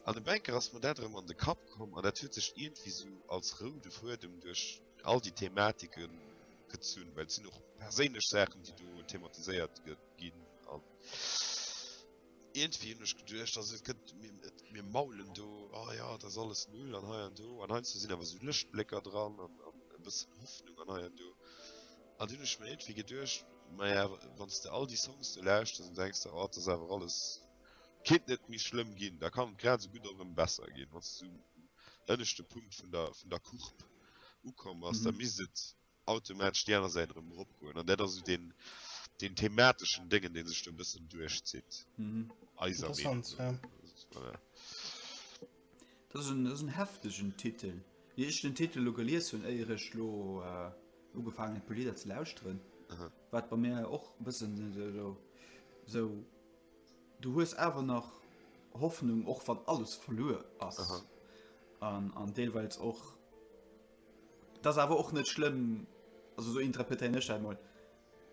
an e Bänker ass mer dat erëm an de Kapp komm an dat huet sech eentvie sou als roude Fuedem duerch all déi Thematike gezunn, well et sinn och perséinlech Saachen déi do thematiséiert gëtt. ginn an irgendwie hun ech geduercht dass et gëtt mir et mir maulen do ah ja das alles null an hei an do an heinz sinn awer so Lëschtblécker dran an an e bëssen Hoffnung an hei an do an hunn ech mir irgendwie geduercht naja wann du all die Songs du lauschters dann denkst du oh das ist einfach alles kinnt net méi schlëmm ginn da kann et grad esou gutt och erëm besser ginn wann du um ënneschte Punkt vun der vun der Courbe ukomm ass da misst et automatesch déi aner Säit erëm eropgoen. An dat ass esou deen, deen themateschen Déngen, dee sech do e bëssen duerchzitt. Mhm. Eiser Meinung Interessant, ja. no. Voilà. Dat ass en, dat ass en heftegen Titel. Wéi ech den Titel lo gelies hunn, éier ech lo äh, ugefaangen hunn, d'Lieder ze lauschteren, Aha. war et bei mir och e bëssen so, so, so. Du hues awer nach Hoffnung, och wann alles verluer ass. Aha. An, an deelweils och 't ass awer och net schlëmm, also esou interpretéieren ech dat emol,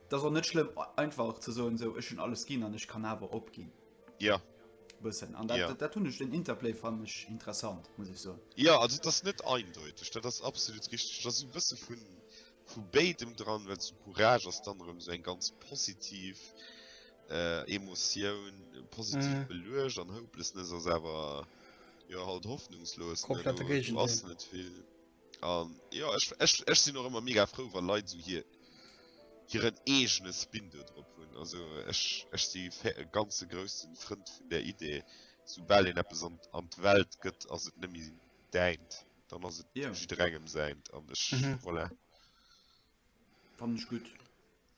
't ass och net schlëmm einfach ze soen, esou ech hunn alles ginn an ech kann awer opginn. Ja. E bëssen. An dat, dat hunn ech, den Interplay fannen ech interessant, muss ech soen. Ja, also 't ass net eindeuteg, dat ass absolut richteg. 't ass esou e bësse vu vu béidem dran, well zu Courage ass dann erëm esou eng ganz positiv Emotioun, positiv beluecht an Hopelessness ass awer. jo halt hoffnungslos komplette Gegendeel an jo ech ech ech sinn och ëmmer mega frou wann Leit sou hir hiren eegene Spin do drop hunn also ech ech si ganze groussen Frënd vun der Idee sou bal een eppes an an d'Welt gëtt ass et nëmme däint dann ass et jiddwerengem säint an ech voilà. Fannen ech gutt.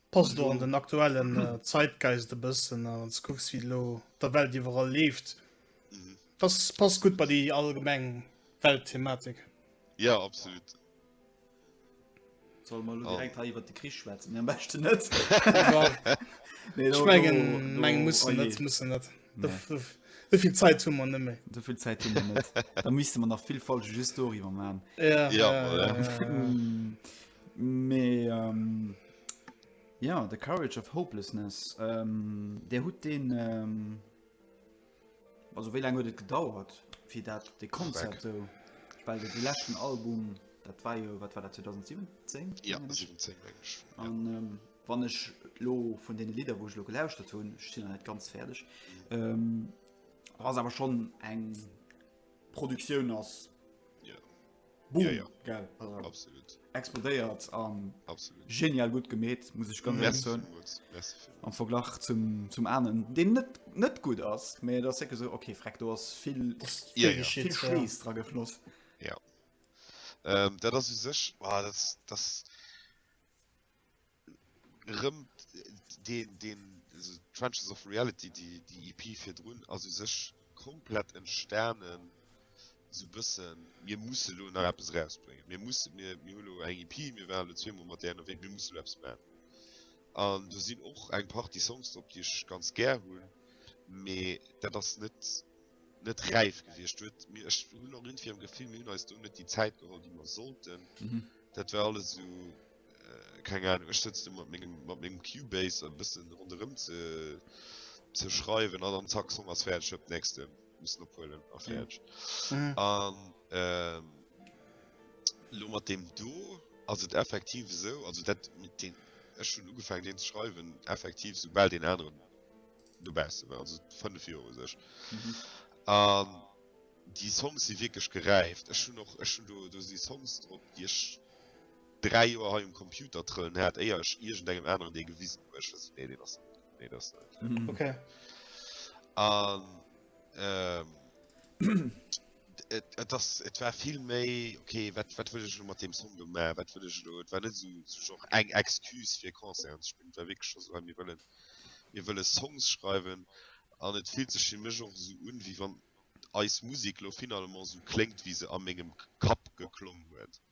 Passt och an den aktuellen Zeitgeist e bëssen a wanns kucks wéi elo der Welt iwwerall leeft, dass passt gutt bei déi allgemeng Weltthematik. Jo, absolut. Solle mer elo direkt hei iwwert de Krich schwätzen? Nee, am beschten net. Ech mengen, musse mer net, musse mer net. Souvill Zäit hu mer net méi. Souvill Zäit hu mer net. Da misste mer nach vill Folge just doriwwer maachen. Jo, voilà. Mee jo, The Courage of Hopelessness, Dir hutt deen, also wéi laang huet et gedauert fir dat dee Konzept sou, well dee leschten Album dat war jo, wat war dat 2017? Jo 17 meng ech. An wann ech elo vun deene Lidder wou ech elo gelauschtert hunn, ech sinn nach net ganz fäerdeg, ass awer schonn eng Produktioun ass. Boom, ja, ja. Geil. Absolut. Explodéiert an Absolut. genial gut gemet muss ich ganz ehrlich sagen. Am Verglach zum, zum Ahnen, den net, net gut ass, mé der se so okay freck du hast viel, ja, ja. viel Schlees ja. dra gefloss. Ja. Ähm, dat ass sech war ah, das, das rëm den den Trenches of Reality die die IP e fir drun also sech komplett entstanen so bëssen mir muss lo nach Apps rausbringen mir muss mir mir hulo eng IP e mir waren zwee mat der wéi mir muss Apps man an du sinn och eng Par die Songs op Dich ganz ger hunn me dat ass net net räif gewircht huet mir ech hun noch run fir Gefill mir hun eis du net die Zäit geholl die man sollten mhm. dat war alles so Keng Ahnung, ech sëtz do mat mengem, mat mengem Cubase e bëssen ronderëm ze, ze schreiwen an dann zack, Song ass fäerdeg, huep, nächste missen ophuelen a fäerdeg. Mhm. An ähm, lo mat dem do ass et effektiv esou, also dat mit den, ech hunn ugefaangen deen ze schreiwen, effektiv soubal den aneren dobausse war, also fënnef Joer u sech. Mhm. An déi Songs si wierklech geräift. Ech hunn och, ech hunn do, do si Songs drop, déi ech 3 Joer hei um Computer trëllen hat éier ech iergend engem aneren dee gewisen hu ech wëssen nee deen ass net nee dat ass net okay okay an ehm et et ass et war vill méi okay wat wat wëll ech lo mat deem Song gemaach wat wëll ech lo et war net esou zu genre eng Excuse fir Concerten ze spillen et war wierklech scho sou mir wëllen mir wëlle Songs schreiwen an et fillt sech fir mech och esou un wéi wann eis Musek lo finalement esou kléngt wéi se a mengem Kapp geklong huet.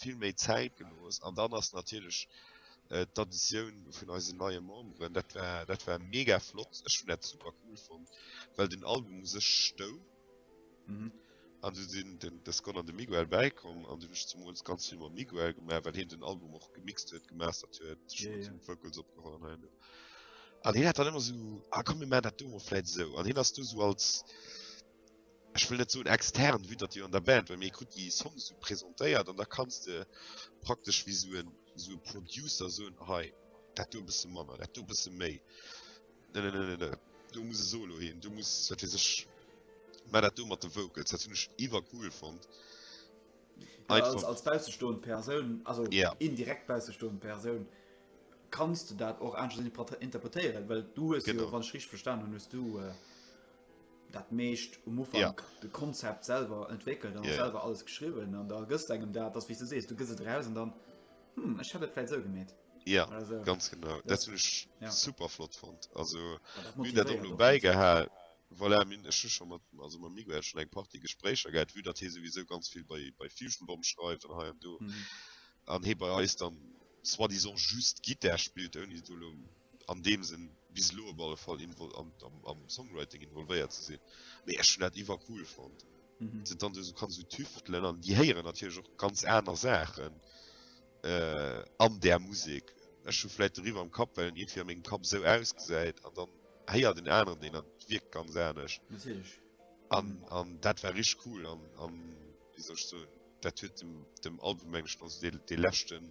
vill méi Zäit gelooss an dann ass natierlech d'Additioun vun eisen neie Memberen, dat war dat war mega flott, ech hunn dat super cool fonnt, well den Album u sech stoung an du sinn den de Scott an de Miguel bäikomm an du hunn ech zemools ganz vill mam Miguel gemaach, well hien den Album och gemixt huet, gemastert huet, d'Vocals opgeholl an hei an do an hien hat dann ëmmer esou, ah komm mir maachen dat do emol vläit esou an hien ass do esou als. ech wëll net soen extern, wéi datt jo an der Band well, mee e krut déi Songs esou presentéiert an da kanns de praktesch wéi esou en esou e Producer soen, hei dat do e bësse manner, dat do e bësse méi, nennennennenne, do muss e Solo hin, do muss wat weess ech, mä dat do mat de Vocals, dat hunn ech iwwercool fonnt. Ja, als, Einfach, als baussestoend Persoun, also Ja. indirekt baussestoend Persoun, kanns de dat och aneschters interpre- interpretéieren, well du hues Genau. jo, wann ech richtig verstanen hunn, hues du äh, dat meescht um Ufank ja. de Konzept selber entwickelt an ja. selber alles geschrieben an da gëst engem dat das wie du sees du gëse draus an dann hm, ich habe vielleicht so gemäht ja also, ganz genau ja. das mich ja. super flott fand also wie der dann beigehall weil er mir schon mal also man mir schon eng party gespräche gehabt wie der these sowieso ganz viel bei bei fusion bomb schreibt und heim du an mhm. he bei euch dann soi-disant just Gitter spielt irgendwie du an deem sinn bis elo op alle Fall invol am, am, am Songwriting involvéiert ze sinn. Mee ech hun dat iwwer cool fand. Mhm. Sind dann so kann so tüftelen an die héieren natürlich och ganz aner Sachen äh, an der Musik. Ech hun vielleicht deriwwer am Kapp, well en irgendwie an mengem Kapp sou ausgesäit an dann héiert den aneren deen an et wierkt ganz anescht. Natierlech. An, an dat war rich cool an, an wéi soll ech soen, dat huet dem, dem Album mengen ech nach esou dee, dee leschten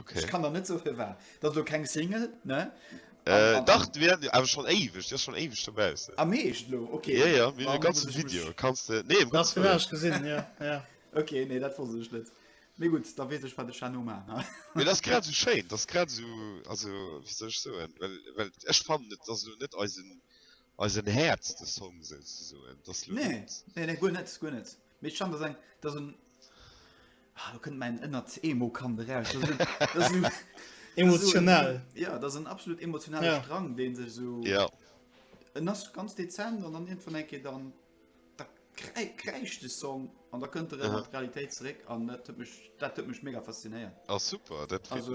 Okay. Ich kann da net so fir war. Dat lo keng Single ne? Äh, dach wir awer schon éiweg Dir schon éiweg dobau Am ah, meescht lo okay. Ja, ja, mir ganze Video kannst du nee, ganz gesinn ja, ja. Okay nee dat wo sech net. Mé gut da wees ech war de Chano ma. Me das grad so schein das grad so also wie sech so well well ech fan net dat du net eisen eisen Häz de Song se soen dat nee, nee, nee, gu net gu net. Mit schon das ein, das ein, ah, du könnt meinen innert Emo kann raus. Das ein, das ein, emotional. Das ein, ja, das ein absolut emotionaler ja. Strang, den sich so. Ja. Und das ganz dezent und dann irgendwann denke ich dann, da kreischt der Song und da könnte er in die Realität zurück und das hat mich, das hat mich mega fasziniert. Ah, super, das also,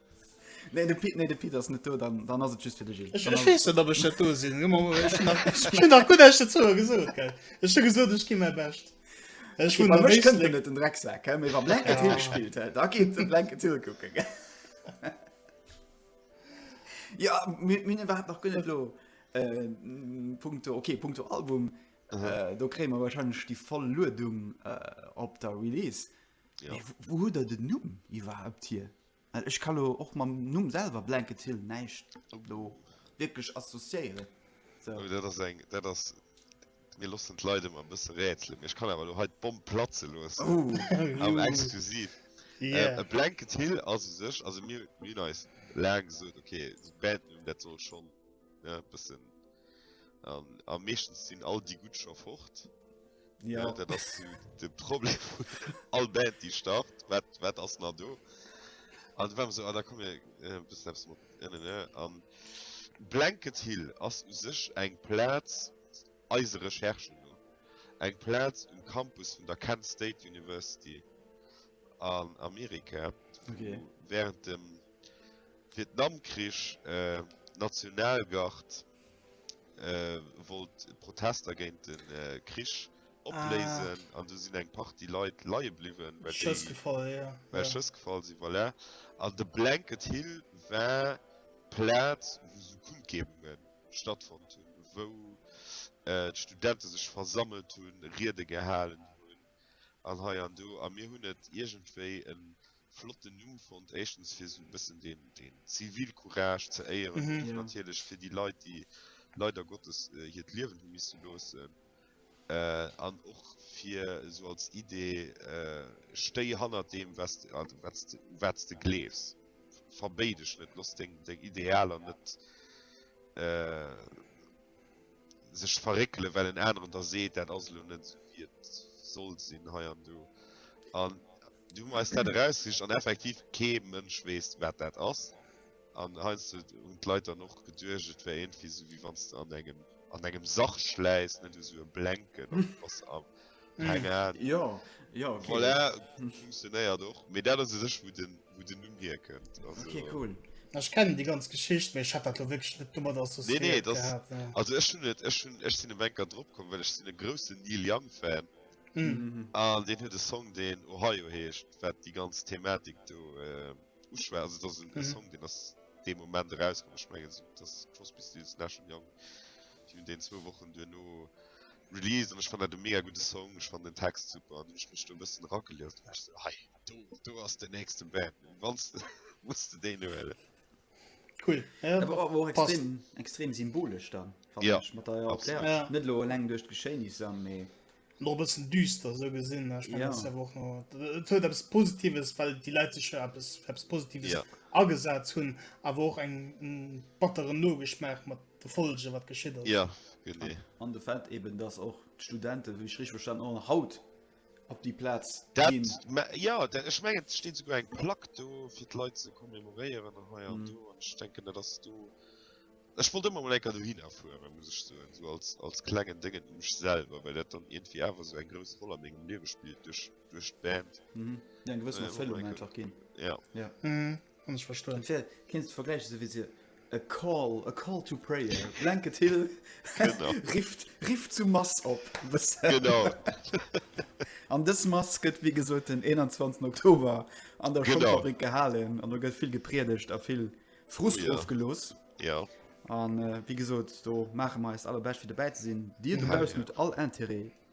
Nee, de Pit, nee, de Pit ass net do, dann, dann ass et just fir de Gilles. Ech, ech weess net, ob ech dat do sinn. Ech hunn nach gutt Esch dozou gesot, gell. Ech hu gesot, ech gi mäi Bescht. Ech hunn nach wéisst net. net den Drecksack, gell, mee wa Blankett Hill gespillt hätt, da géif de Blankett Hill kucken, gell. Ja, mir, mir hunn iwwerhaapt nach guer net elo, äh, punkto, okay, punkto Album, äh, do kréie mer wahrscheinlech déi voll Luedung, äh, op der Release. Mee wou hutt Der den Numm iwwerhaapt hier? Well ech ka lo och mam Numm selwer Blanket Hill näischt lo wierklech associéieren. Sou. Oh, dat ass eng, dat ass, mir loossen d'Leit ëmmer e bësse rätselen, mee ech kann awer lo hei d'Bomm platze loossen. Oh. Am Exklusiv. Yeah. A Blanket Hill ass u sech, also mir, mir hunn eis laang gesot, okay, de Bandnumm, dat soll schonn, ne, e bëssen An a meeschtens sinn all déi gutt scho fort. Ja. Äh, dat ass de Problem vun all Band déi start, wat wat ass na do? An war so ah, da kom äh, bis mat an Blanket Hill ass u sech eng Plaz eise Recherchen no. Eng Plaz um Campus vun der Kent State University an Amerika okay. während dem Vietnamkrich, D'Nationalgard wollt d'Protester géint de Krich opléisen an do sinn eng Partie Leit leie bliwwen, well déi Schëss gefall sinn. Voilà. An de Blanket Hill war d'Plaz, wou esou Kundgebunge stattfonnt hunn, wou d'Studente sech versammelt hunn, Riede gehalen hunn an hei an do. A mir hunn et iergendwéi e flotten Numm fonnt, éischtens fir esou e bëssen den Zivilcourage ze éieren an natierlech fir déi Leit, déi leider Gottes hiert Liewen hu misse loossen an och fir esou als Idee, Stéi hannert deem, wat u wat s de gleefs, verbéi dech net, looss deng Idealer net sech verréckelen, well en aneren der seet, dat ass elo net esou, wéi et sollt sinn hei an do. Du hu mer eis dat erausgesicht an effektiv kee Mënsch weess wat dat ass. An heiansdo hunn d'Leit dann och geduecht, et wär iergendwéi esou wéi wann s de an engem, an engem Sach schläiss, net esou e Blenken an du bass am, keng Ahnung. Jo, jo, okay. Voilà, funktionéiert och. Mee dat ass u sech wou den, wou den Numm hierkënnt. Also. Okay, cool. Ech kennen déi ganz Geschicht, mee ech hat dat elo wierklech net domat associéiert gehat. Nee, nee, also ech hunn et, ech hunn, ech sinn elo enker dropkomm, well ech sinn e groussen Neil Young Fan. Mm. An deen huet e Song, deen Ohio heescht, wat déi ganz Thematik do äh, uschwär. Also dat ass en mm. Song, den ass de Moment erauskom. Ech mengen so, dats Crosby Stills Nash Young Di hun deen zwou Wochen duerno release an ech fan dat de mega gute Song. Ech fan den Text super an ech mech do bëssen ragelieft. Ech so, hei, do, do ass den nächste Band. Wanns de muss de déi huelen. Cool. Ja, aber auch, auch extrem, extrem symbolisch dann. Ja. Ich, mit der, ja, ja. Nicht nur lang durch Geschehnisse, aber noch bisschen düster so gesinn äh, ja. etwas positives weil die Lei sich etwas, etwas positives ja. agesatz hun aber auch eng battere nogeschmacht mat de Folge wat geschie ja. an de Feld eben das auch Studenten wie schrich verstanden haut op déi Plaz ginn. Ja ech mengen et steet souguer eng Plack do fir d'Leit ze commemoréieren an hei an do an ech denken dat ass do. Ech wollt ëmmer mol enker dohinner fuere muss ech soen, esou als als klengen Déngen u mech selwer, well dat dann iergendwéi awer esou eng grouss Roll a mengem Liewe spillt duerch duerch d'Band. Eng gewëssen Erfëllung einfach ginn. Ja. Hunn ech verstoen. Fir kéinst de vergläichen esou wéi se a call, a call to prayer, Blanket Hill rifft, rifft zu Mass op. Genau. An dës Mass gëtt wéi gesot den 21 Oktober an der Genau. Schongfabrik gehalen an do gëtt vill gepriedegt a vill Frust Oh ja. ofgelooss. Ja. An äh, wéi gesot, do maache mer eist allerbescht fir dobäi ze sinn. Dir dobaussen hutt all Interêt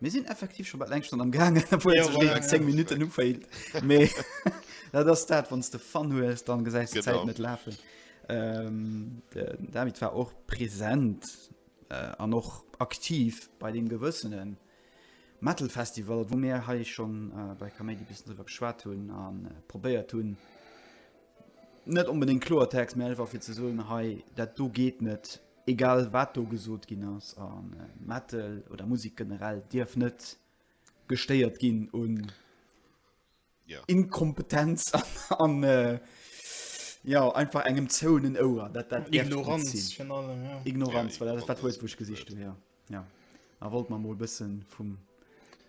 Mir sinn effektiv schon bei leng schon am gang minuten ufeilt me dat das dat wann de fan hu es dann ge net lafen ähm, damit war och präsent äh, an och aktiv bei dem gewëssenen metal festival wo mir ha ich schon äh, bei comedy bis drüber geschwa hun an äh, probéiert hun net unbedingt klotext me war fir ze so hey dat du geht net Egal wat do gesot ginn ass, a Metal oder Musek generell dierf net gestéiert ginn un Inkompetenz an jo einfach engem zouenen Ouer. Dat dat Ignoranz virun allem, jo. Ignoranz, voilà, dat war d'Wuert, wou ech gesicht hunn, jo. A wollt mer mol e bësse vum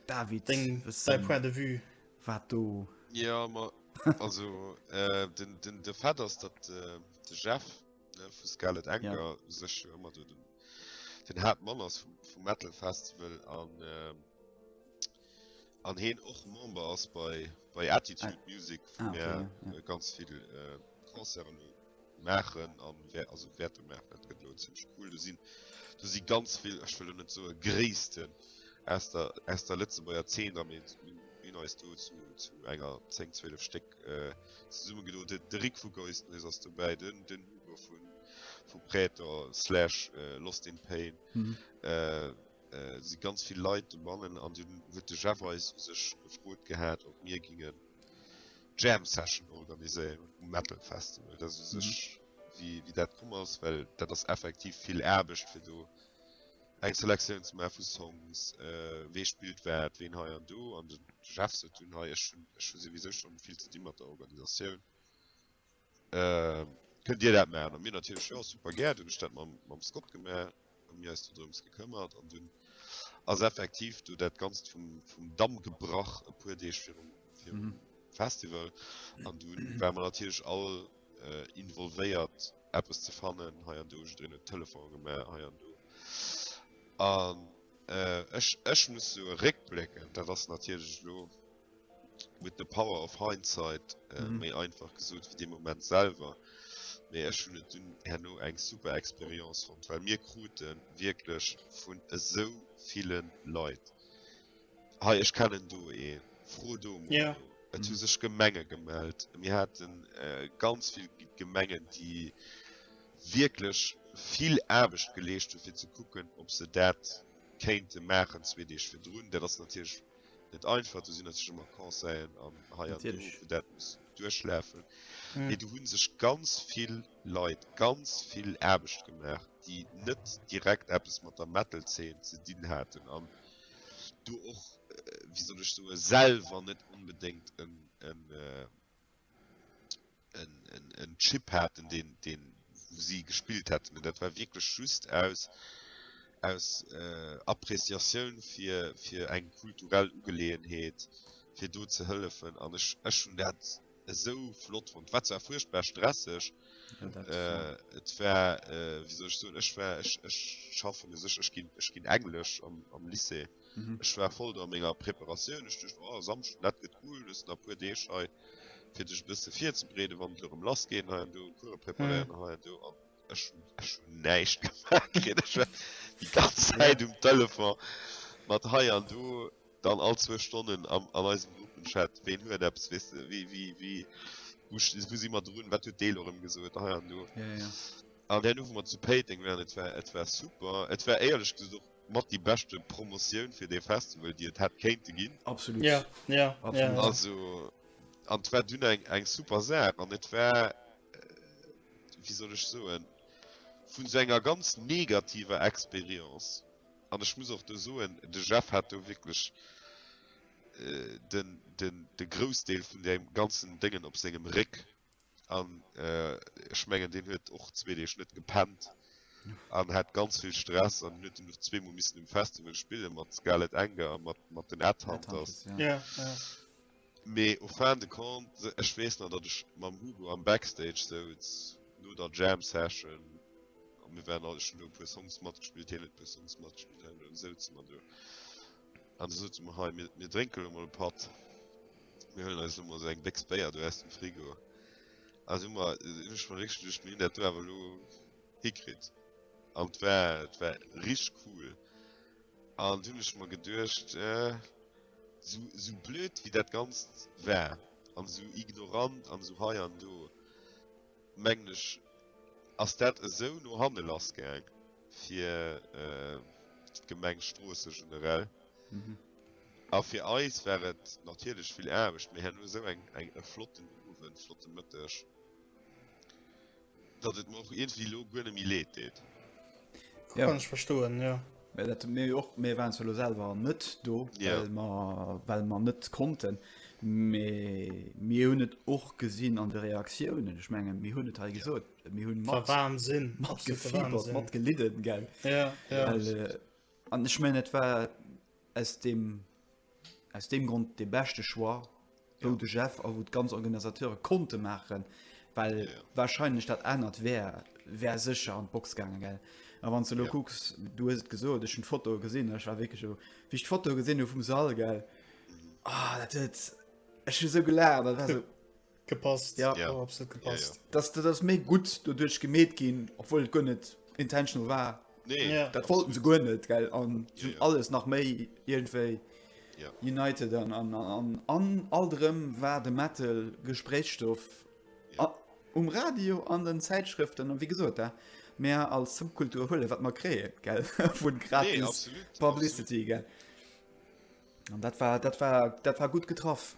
David deng säi Point de vue wat do. Jo, ma also den de Fait ass, datt de Jeff, vu Scarlet Anger ja. sech ëmmer du den, den hart Mann ass vum, vum Metal Festival an ähm, an heen och Member ass bei, bei Attitude ah. Music vu ah, okay, ja, ja. Äh, ganz vill äh, Konzern machen an wer also Werte machen dat gëtt lohn ziemlich cool du sinn du si ganz vill ech will net so gréessten aus der aus der Lëtzeburger 10 am hin als du zu, zu enger 10 12 Steck Zesumme gedoen huet. De Rick vu Ghost Noise ass dobäi, den den Hugo vun vu Praetor slash äh, Lost in Pain. Mhm. Äh, äh, si ganz vill Leit bannen an dun huet de Jeff eis sech gefrot gehat, ob mir gingen Jam Session organiséieren um Metal Festival. Dat u sech mhm. wie, wie dat komm ass, well dat ass effektiv vill Aarbecht fir do eng Selektioun ze maachen vu Songs, wee spillt wat, ween hei an do, an de Jeff sot dunn, hei ech hunn, ech hu souwisou schonn vill ze di mat der Organisatioun, kënnt Dir dat maachen? A mir natierlech, jo super gär. Dunn hunn ech dat mam Scott gemaach a mir eis do drëms gekëmmert an dunn ass effektiv do dat Ganzt vum Damm gebrach e puer Deeg virum Festival an dunn ware mer natierlech all, involvéiert eppes ze fannen hei an do ech den telefon gemä hei an do an ech ech muss so réckblecken dat ass natierlech lo mit de power of hindsight äh, mhm. méi einfach gesot fir de moment selber méi ech hun et dun herno eng super experience von weil mir kruten wirklich vun esou vielen leid Hei ech kennen do ee fro do yeah. Et hu sech Gemenge gemellt. mir hatten äh, ganz vill Gemengen, déi wieklech vill Aarbecht geleescht hun fir ze kucken, ob se dat kéinte maachen zwee Deeg fir drun. Dat ass natierlech net einfach, du sinn natierlech ëmmer Conseillen an hei an do, dat muss duerchläfen. Mm. Mee du hunn sech ganz vill Leit ganz vill Aarbecht gemaach, déi net direkt eppes mat der Metal-Zeen ze dinn haten. An do och wéi soll ech soe selwer net onbedéngt en Chip haten, deen wou si gespillt hätten, mee dat war wierklech just aus aus Appreciatioun fir fir eng kulturell Ugeleeënheet, fir do ze hëllefen an ech ech hunn dat. esou flott fond wat zwar furchtbar stresseg et war wieso ich so ech war ech ech schaffen es ech ech gin ech gin englisch am am lycée ech war voll der menger preparatioun ech ducht oh samsch dat get cool dus na puer deeg hei fir dech bisse vir ze brede wann du rem lass gehen hei an du cour preparieren hei an du an ech ech hun näischt gemacht kritt ech war die ganz zeit um telefon mat hei an du Dann all zwou Stonnen an eisem Gruppenchat, ween huet eppes, weess de, wéi, wéi, wéi, wou si mer drun, wat huet dee elo erëm gesot a hei an do. Ja, ja. An där Nuch, wou mer zu Péiteng waren, et war, et war super. Et war éierlech gesot och mat déi beschte Promotioun fir dee Festival, déi et hätt kéinte ginn. Absolut. Ja, ja, ja, ja. Also, an et war dunn eng, eng super Saach an et war, wéi soll ech soen, vun esou enger ganz negativer Experience An ech muss och do soen, de Jeff hat do wierklech de Groussdeel vun deem ganzen Déngen op sengem Réck. An ech mengen, deen huet och zwee Deeg net gepennt an hat ganz vill Stress an huet dunn och zweemol missen um Festival spille mat Scarlet Anger a mat den Headhunters. Mee au fin de compte, ech weess nach, datt ech mam Hugo am Backstage souz no der Jam Session, a mir waren all, ech hunn do e puer Songs matgespillt, hien huet e puer Songs matgespillt, an dunn souze mer do an da sote mer, hei, mir, mir drénke lo mol e Patt, mir huelen eis lo mol esou eng Béchs Béier do aus dem Frigo. Also hu mer, hunn ech mer wierklech geduecht, mir hunn dat do awer elo hikritt. An et war, et war richteg cool. An dunn hunn ech mer geduecht, Sou blöd wéi dat Ganzt war, an sou ignorant an sou hei an do, mengen ech, ass dat esou no hanne lass gaang fir d'Gemeng Stroossen generell. A fir eis war et natierlech vill Aarbecht. Mir haen elo esou eng flotten Owend, flotte Mëtteg. Datt et mer och iergendwéi elo guer net méi Leed deet. Ja. Kann ech verstoen, jo. Mä dat hunn mir jo och. Mir waren zwar elo selwer net do, well mer, well mer net konnten, mee mir hunn et och gesinn an de Reaktiounen. Ech menge mir hunn et hei gesot, mir hunn mat. War Wahnsinn. Matgefiebert, matgelidden, gell. Ja, ja. Well, an ech mengen, et war Aus deem aus deem Grond dee beschte Choix, wou de Jeff a wou d'ganz Organisateure konnte maachen, well warscheinlech dat anert wär wär sécher an d'Box gaangen, gell? A wann s de elo kucks, du hues et gesot, ech hunn d'Fotoe gesinn, ech war wierklech elo, wéi ech d'Fotoe gesinn hu vum Sall, gell, ah dat huet, ech hu esou gelaacht, dat war esou. gepasst ja, ja. Oh, absolut gepasst ja, ja. dass du das méi gut dodurch gemet gin obwohl gun net intentional war nee, ja. dat wollten ze gun net ge an ja, ja. alles nach méi irgendwei ja. united an an an an allrem war de metal gesprächstoff ja. a, um radio an den zeitschriften an wie gesot da mehr als subkultur hulle wat man kree geld vu gratis nee, absolut, publicity absolut. dat war dat war dat war gut getroffen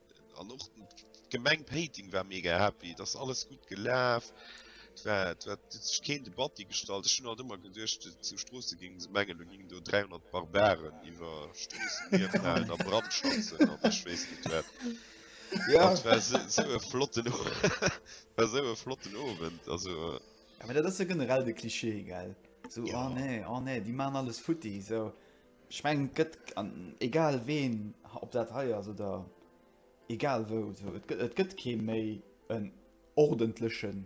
An och d'Gemeng Péiteng war mega happy, et ass alles gutt gelaf. Et war, et war, et huet sech keen de Batti gestallt. Ech hunn alt ëmmer geduecht, zu Stroossen géinge se mengen, do géingen do 300 Barbaren iwwer Stroossen hierfalen a brandschatzen an ech weess net wat. Jo, et war esou e flotten, et war esou e flotten Owend. Also. Mä dat ass jo generell de Cliché, gell, esou, oh nee, oh nee, déi maachen alles futti, esou. Ech mengen et gëtt an egal ween, ob dat hei ass oder egal wou, esou et gëtt et gëtt kee méi en ordentlechen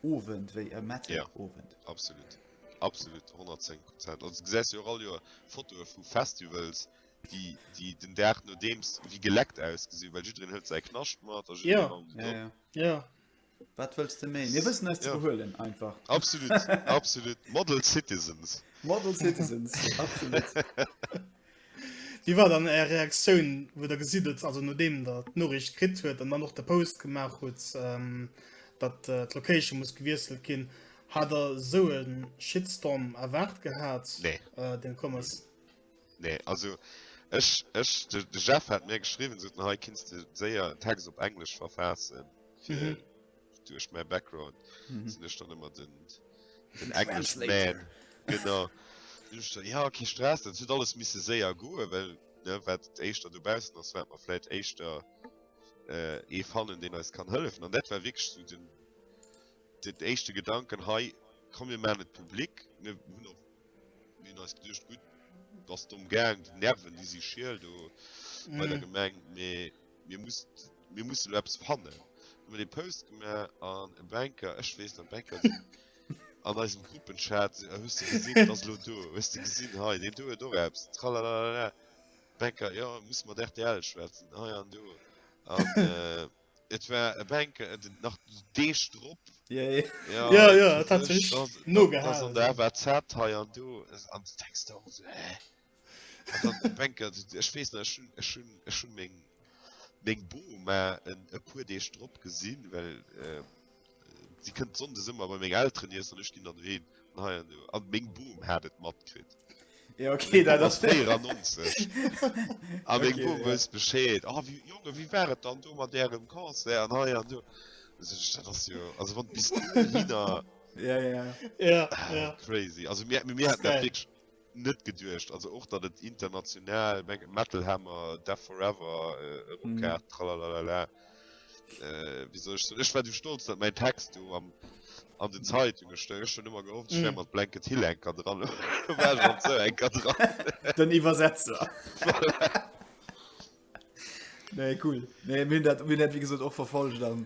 Owend wéi e Metalowend. Jo, absolut, absolut, 110 Prozent. Also du gesäis jo och all Joer Fotoe vu Festivals, déi déi den Dag nodeems wéi geleckt ausgesinn, well jiddereen hëlt säi Knascht mat a jiddereen. Jo, jo, jo. Wat wëlls de méi? Mir wëssen eis ze behuelen einfach. Absolut, absolut. Model Citizens. Model Citizens, absolut. Wéi war dann Är Reaktioun, wou Der gesitt hutt, also nodeem Der d'Noriicht kritt huet an dann och de Post gemaach hutt, datt d'Location muss gewiesselt ginn? Hat Der esou e Shitstorm erwaart gehat? Deen komm ass? Nee, also ech, ech, de, de Jeff hat mir geschrieben, so hei kinst du séier en Text op Englisch verfassen. Fir, mhm. Duerch mein Background mhm. sinn ech dann immer den, den English Man. Genau. ja, okay, Stress, dat huet alles misse séier goe, well ne, wat éischter du bausen ass wat man fläit éischter äh, ee fannen, den eis kann hëllefen. An dat war wéchst du den, den éischte Gedanken hei komm mir man net Publikum, mir hunn Mir hunn eis geduecht, gutt, bass de emgaang déi Nerven, déi si schiel do bei der Gemeng, mee mir muss, mir musse elo eppes fannen. Hu mer dee Post gemaach an e Banker, ech weess nach, Banker sinn an eisem Gruppenchat, se, Hues de gesinn, et ass elo do, hues de gesinn, hei, deen do huet och eppes, tralalala. Banker, Jo, musse mat rtl schwätzen, hei an do. An. Et war e Bänke en den nach Deeg drop. Ja ja ja ja et hat sech no gehalen. An der war Zat hei an do an de Text och so äh. Bänke ech wees net hun ech hun ech hun meng meng Bo ma en e puer Deeg drop gesinn well. Äh, Si kënnt sonndes ëmmer bei meng Elteren iessen an ech ginn dann heen. An hei an do. An meng Bum hat et matkritt. Ja, okay, Meng dat Bum ass ass. 94. A meng Okay, Bum ja. wësst Bescheed. A wéi, Jongen, wéi war et dann do mat Ärem Concert an hei an do? Da sot ech, Dat ass jo, also wann bis dohinner, Ja, ja. Ja, ja. crazy. Also mir, mir, mir haten dat Geil. wierklech. net geduecht, also och datt et international, mengen Metal Hammer, Death Forever erop kaat, tralalala, wéi soll ech soen, ech war du stolz datt mäin Text do am an den Zeitunge stoung, ech hunn ëmmer gehofft ech wär mat Blanket Hill eng Kéier dran, elo war ech mat esou enker dran. Den Iwwersetzer. Voilà. Nee cool, nee mir hunn dat, mir hunn dat wéi gesot och verfollegt an.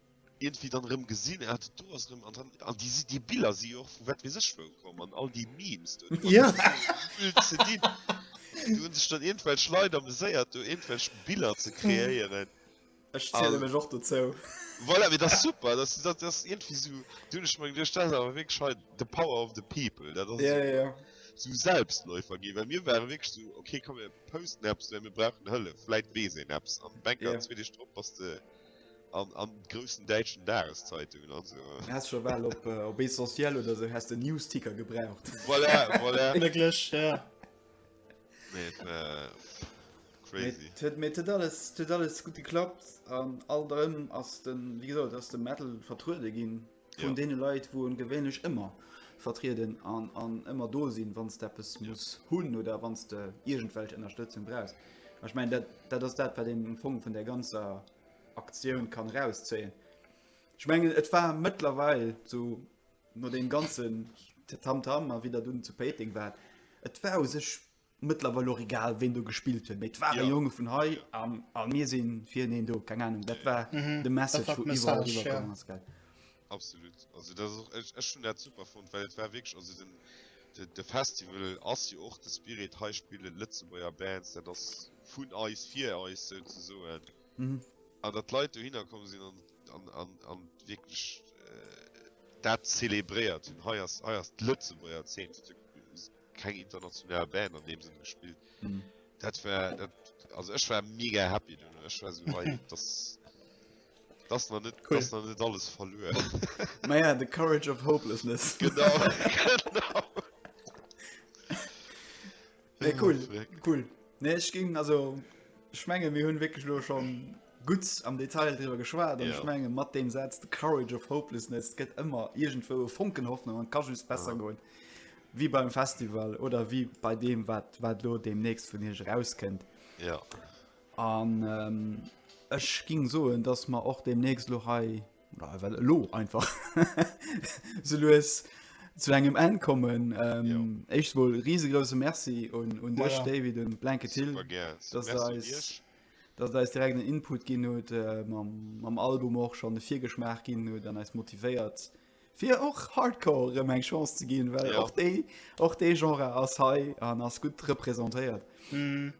iergendwéi dann erëm gesinn, ah dat do ass erëm, an dann, an déi si, déi Biller si jo och vu wat weess ech wou komm, an all déi Memes do, déi Ja. waren esou gefüllt ze dinn, do hunn sech dann iergendwelch Leit ameséiert, do iergendwelch Biller ze kreéieren. Ech ziele mech och dozou. Voilà, mee dat ass super, dat ass, dat ass iergendwéi esou, do hunn ech mer geduecht, dat ass awer wierklech hei the power of the people, dat ass Ja, ja, ja. esou esou Selbstläufer ginn, well mir ware wierklech esou, okay komm mir posten eppes, well mir brauchen Hëllef, vläit weess een eppes, an bang, Ja. zwee Deeg drop bass de An an groussen däitschen Dageszeitungen an esou. Häss scho bal op op Essentiel oder esou häss den Newsticker gebraucht. Voilà, voilà. Wierklech, jo. Mee et war crazy. Et huet, mee et huet alles, et huet alles gutt geklappt an alt erëm ass de, wéi gesot, ass de Metal vertruede ginn. vun ja. deene Leit, wou en gewéinlech ëmmer vertrieden an, an ëmmer do sinn, wann de eppes ja. muss hunn oder wann de iergendwelch Ënnerstëtzung brauchs. Ech mein dat, dat ass dat wat den um Fong vun der ganzer Aktioun kann rauszéien. Ech mengen et war mëttlerweil zu no dem ganzen Tamtam a wieder dun zu Péiting wat. Et war u sech Mëttlerweil och egal ween do gespillt huet, mee et waren ja. Jonge vun hei an, an mir sinn fir een do keng Ahnung, dat war mhm. de Message vu iwwer iwwerkommen ass gell. Absolut also dat och ech, ech hun dat super vun, well et war wég also den de, de Festival ass jo och de Spirit hei spille Lëtzebuerger Bands, dat ass vun eis fir eis sou ze soen. Mhm. An dat Leiit do hinnerkom sinn an, an, an, an wieklech äh, dat zelebréiert hunn hei ass hei ass d'Lëtzebuerger Zeen keng international Band an dem Sinn gespillt. Mhm. Dat war dat, also ech war mega happy du ech war so, hey, das, das noch net cool. noch net alles verloren. Naja the courage of hopelessness genau, genau. Nee, cool, cool. Nee, ich ging also schmenge wie hunn wirklich nur schon gut am Detail darüber geschwar ja. schmenge mat dem Satz the courage of hopelessness gett immer irgendwo Funkenhoffnung an kann besser ja. gehen. Wéi beim Festival oder wéi bei deem, wat wat lo deemnächst vun Iech erauskënnt. Ja. An ähm, ech ging soen, dass ma och deemnächst lo hei oder hei well lo einfach se lues zu engem Enn kommen. Ähm, Echt wuel risegrouse Merci un, un dech, Voilà. David und Blanket Hill, Super gär. dass Merci eis, Iech. dass der eis direkt en Input ginn huet, äh, mam, mam Album och schon de Virgeschmaach ginn huet an eis motivéiert Fir och Hardcore erëm eng Chance ze ginn, well och déi och dee Genre ass hei an ass gutt representéiert. Mm.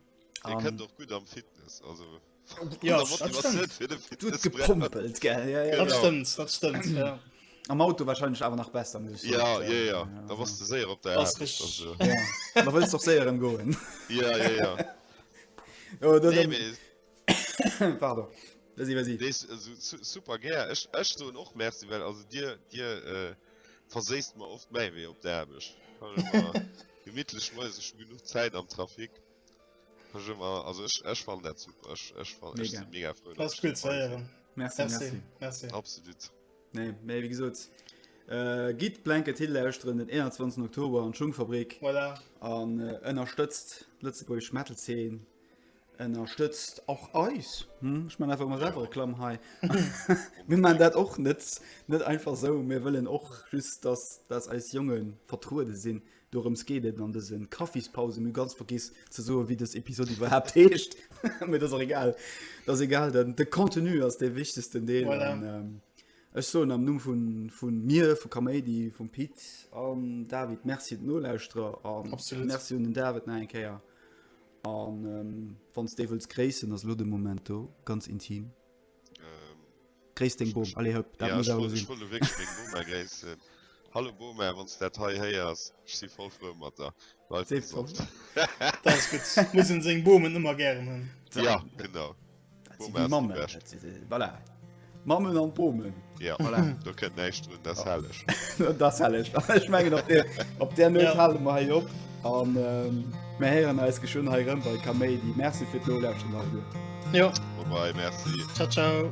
Dir kënnt och gutt am Fitness also ja, gepumpelt ge ja, ja. Dat stëmmt, dat stëmmt, ja. Am Auto warscheinlech awer nach besser muss ja, ja, ja, ja. da was du séier op der da wëst doch séier em goen ja, ja, ja. oh, nee, Pardon. Merci, merci. Dees super gär. Ech, ech soen och Merci, well also dir, dir äh, verséist mer oft méi wéi op der Aarbecht. Gemittlech moes ech genug Zäit am Trafik. Ech ëmmer, also ech, ech fan dat super. Ech, ech fan mega. Ech mega frou. Dat ass cool ze héieren. Merci, merci. Merci. merci. Absolut. Nee, méi wéi gesot. Äh, Gitt Blanket Hill lauschteren den 21. Oktober an Schungfabrik. Voilà. An äh, ënnerstëtzt d'Lëtzebuerg Metal-Zeen. Ënnerstëtzt och eis! Ech man einfach mol selwer Reklamm hei. Mir man dat och net net einfach sou. Mir wëllen och just, dass dass eis Jongen vertruede sinn. Dorëms geet et an dëse Kaffispausen. Mir hu ganz vergiss ze soen, wéi dës Episod iwwerhaapt heescht. Mee dat ass och egal. Dat ass egal, den de Contenu ass dee wichtegsten Deel. Voilà. An ech soen am Numm vun vun mir, vu Kaméidi, vum Pit an David Merci un d'Nolauschterer an Absolut. Merci un den David nach eng Kéier. An wann s de wëlls gréissen, ass elo de Moment do, ganz intim. Gréiss deng Bom, allez hop, dat muss awer sinn. Hallo Boma, wann s dat hei héiers, ech si voll frou mat der. Bleiw gesond. Dat ass gutt, muss een seng Bomen ëmmer gären hunn. Ja, genau. Mammen an Bomen Op der Mö halen ma op an mé heieren als geschön he bei Kaméidi Merc fir no Jo Merci ciao ciao.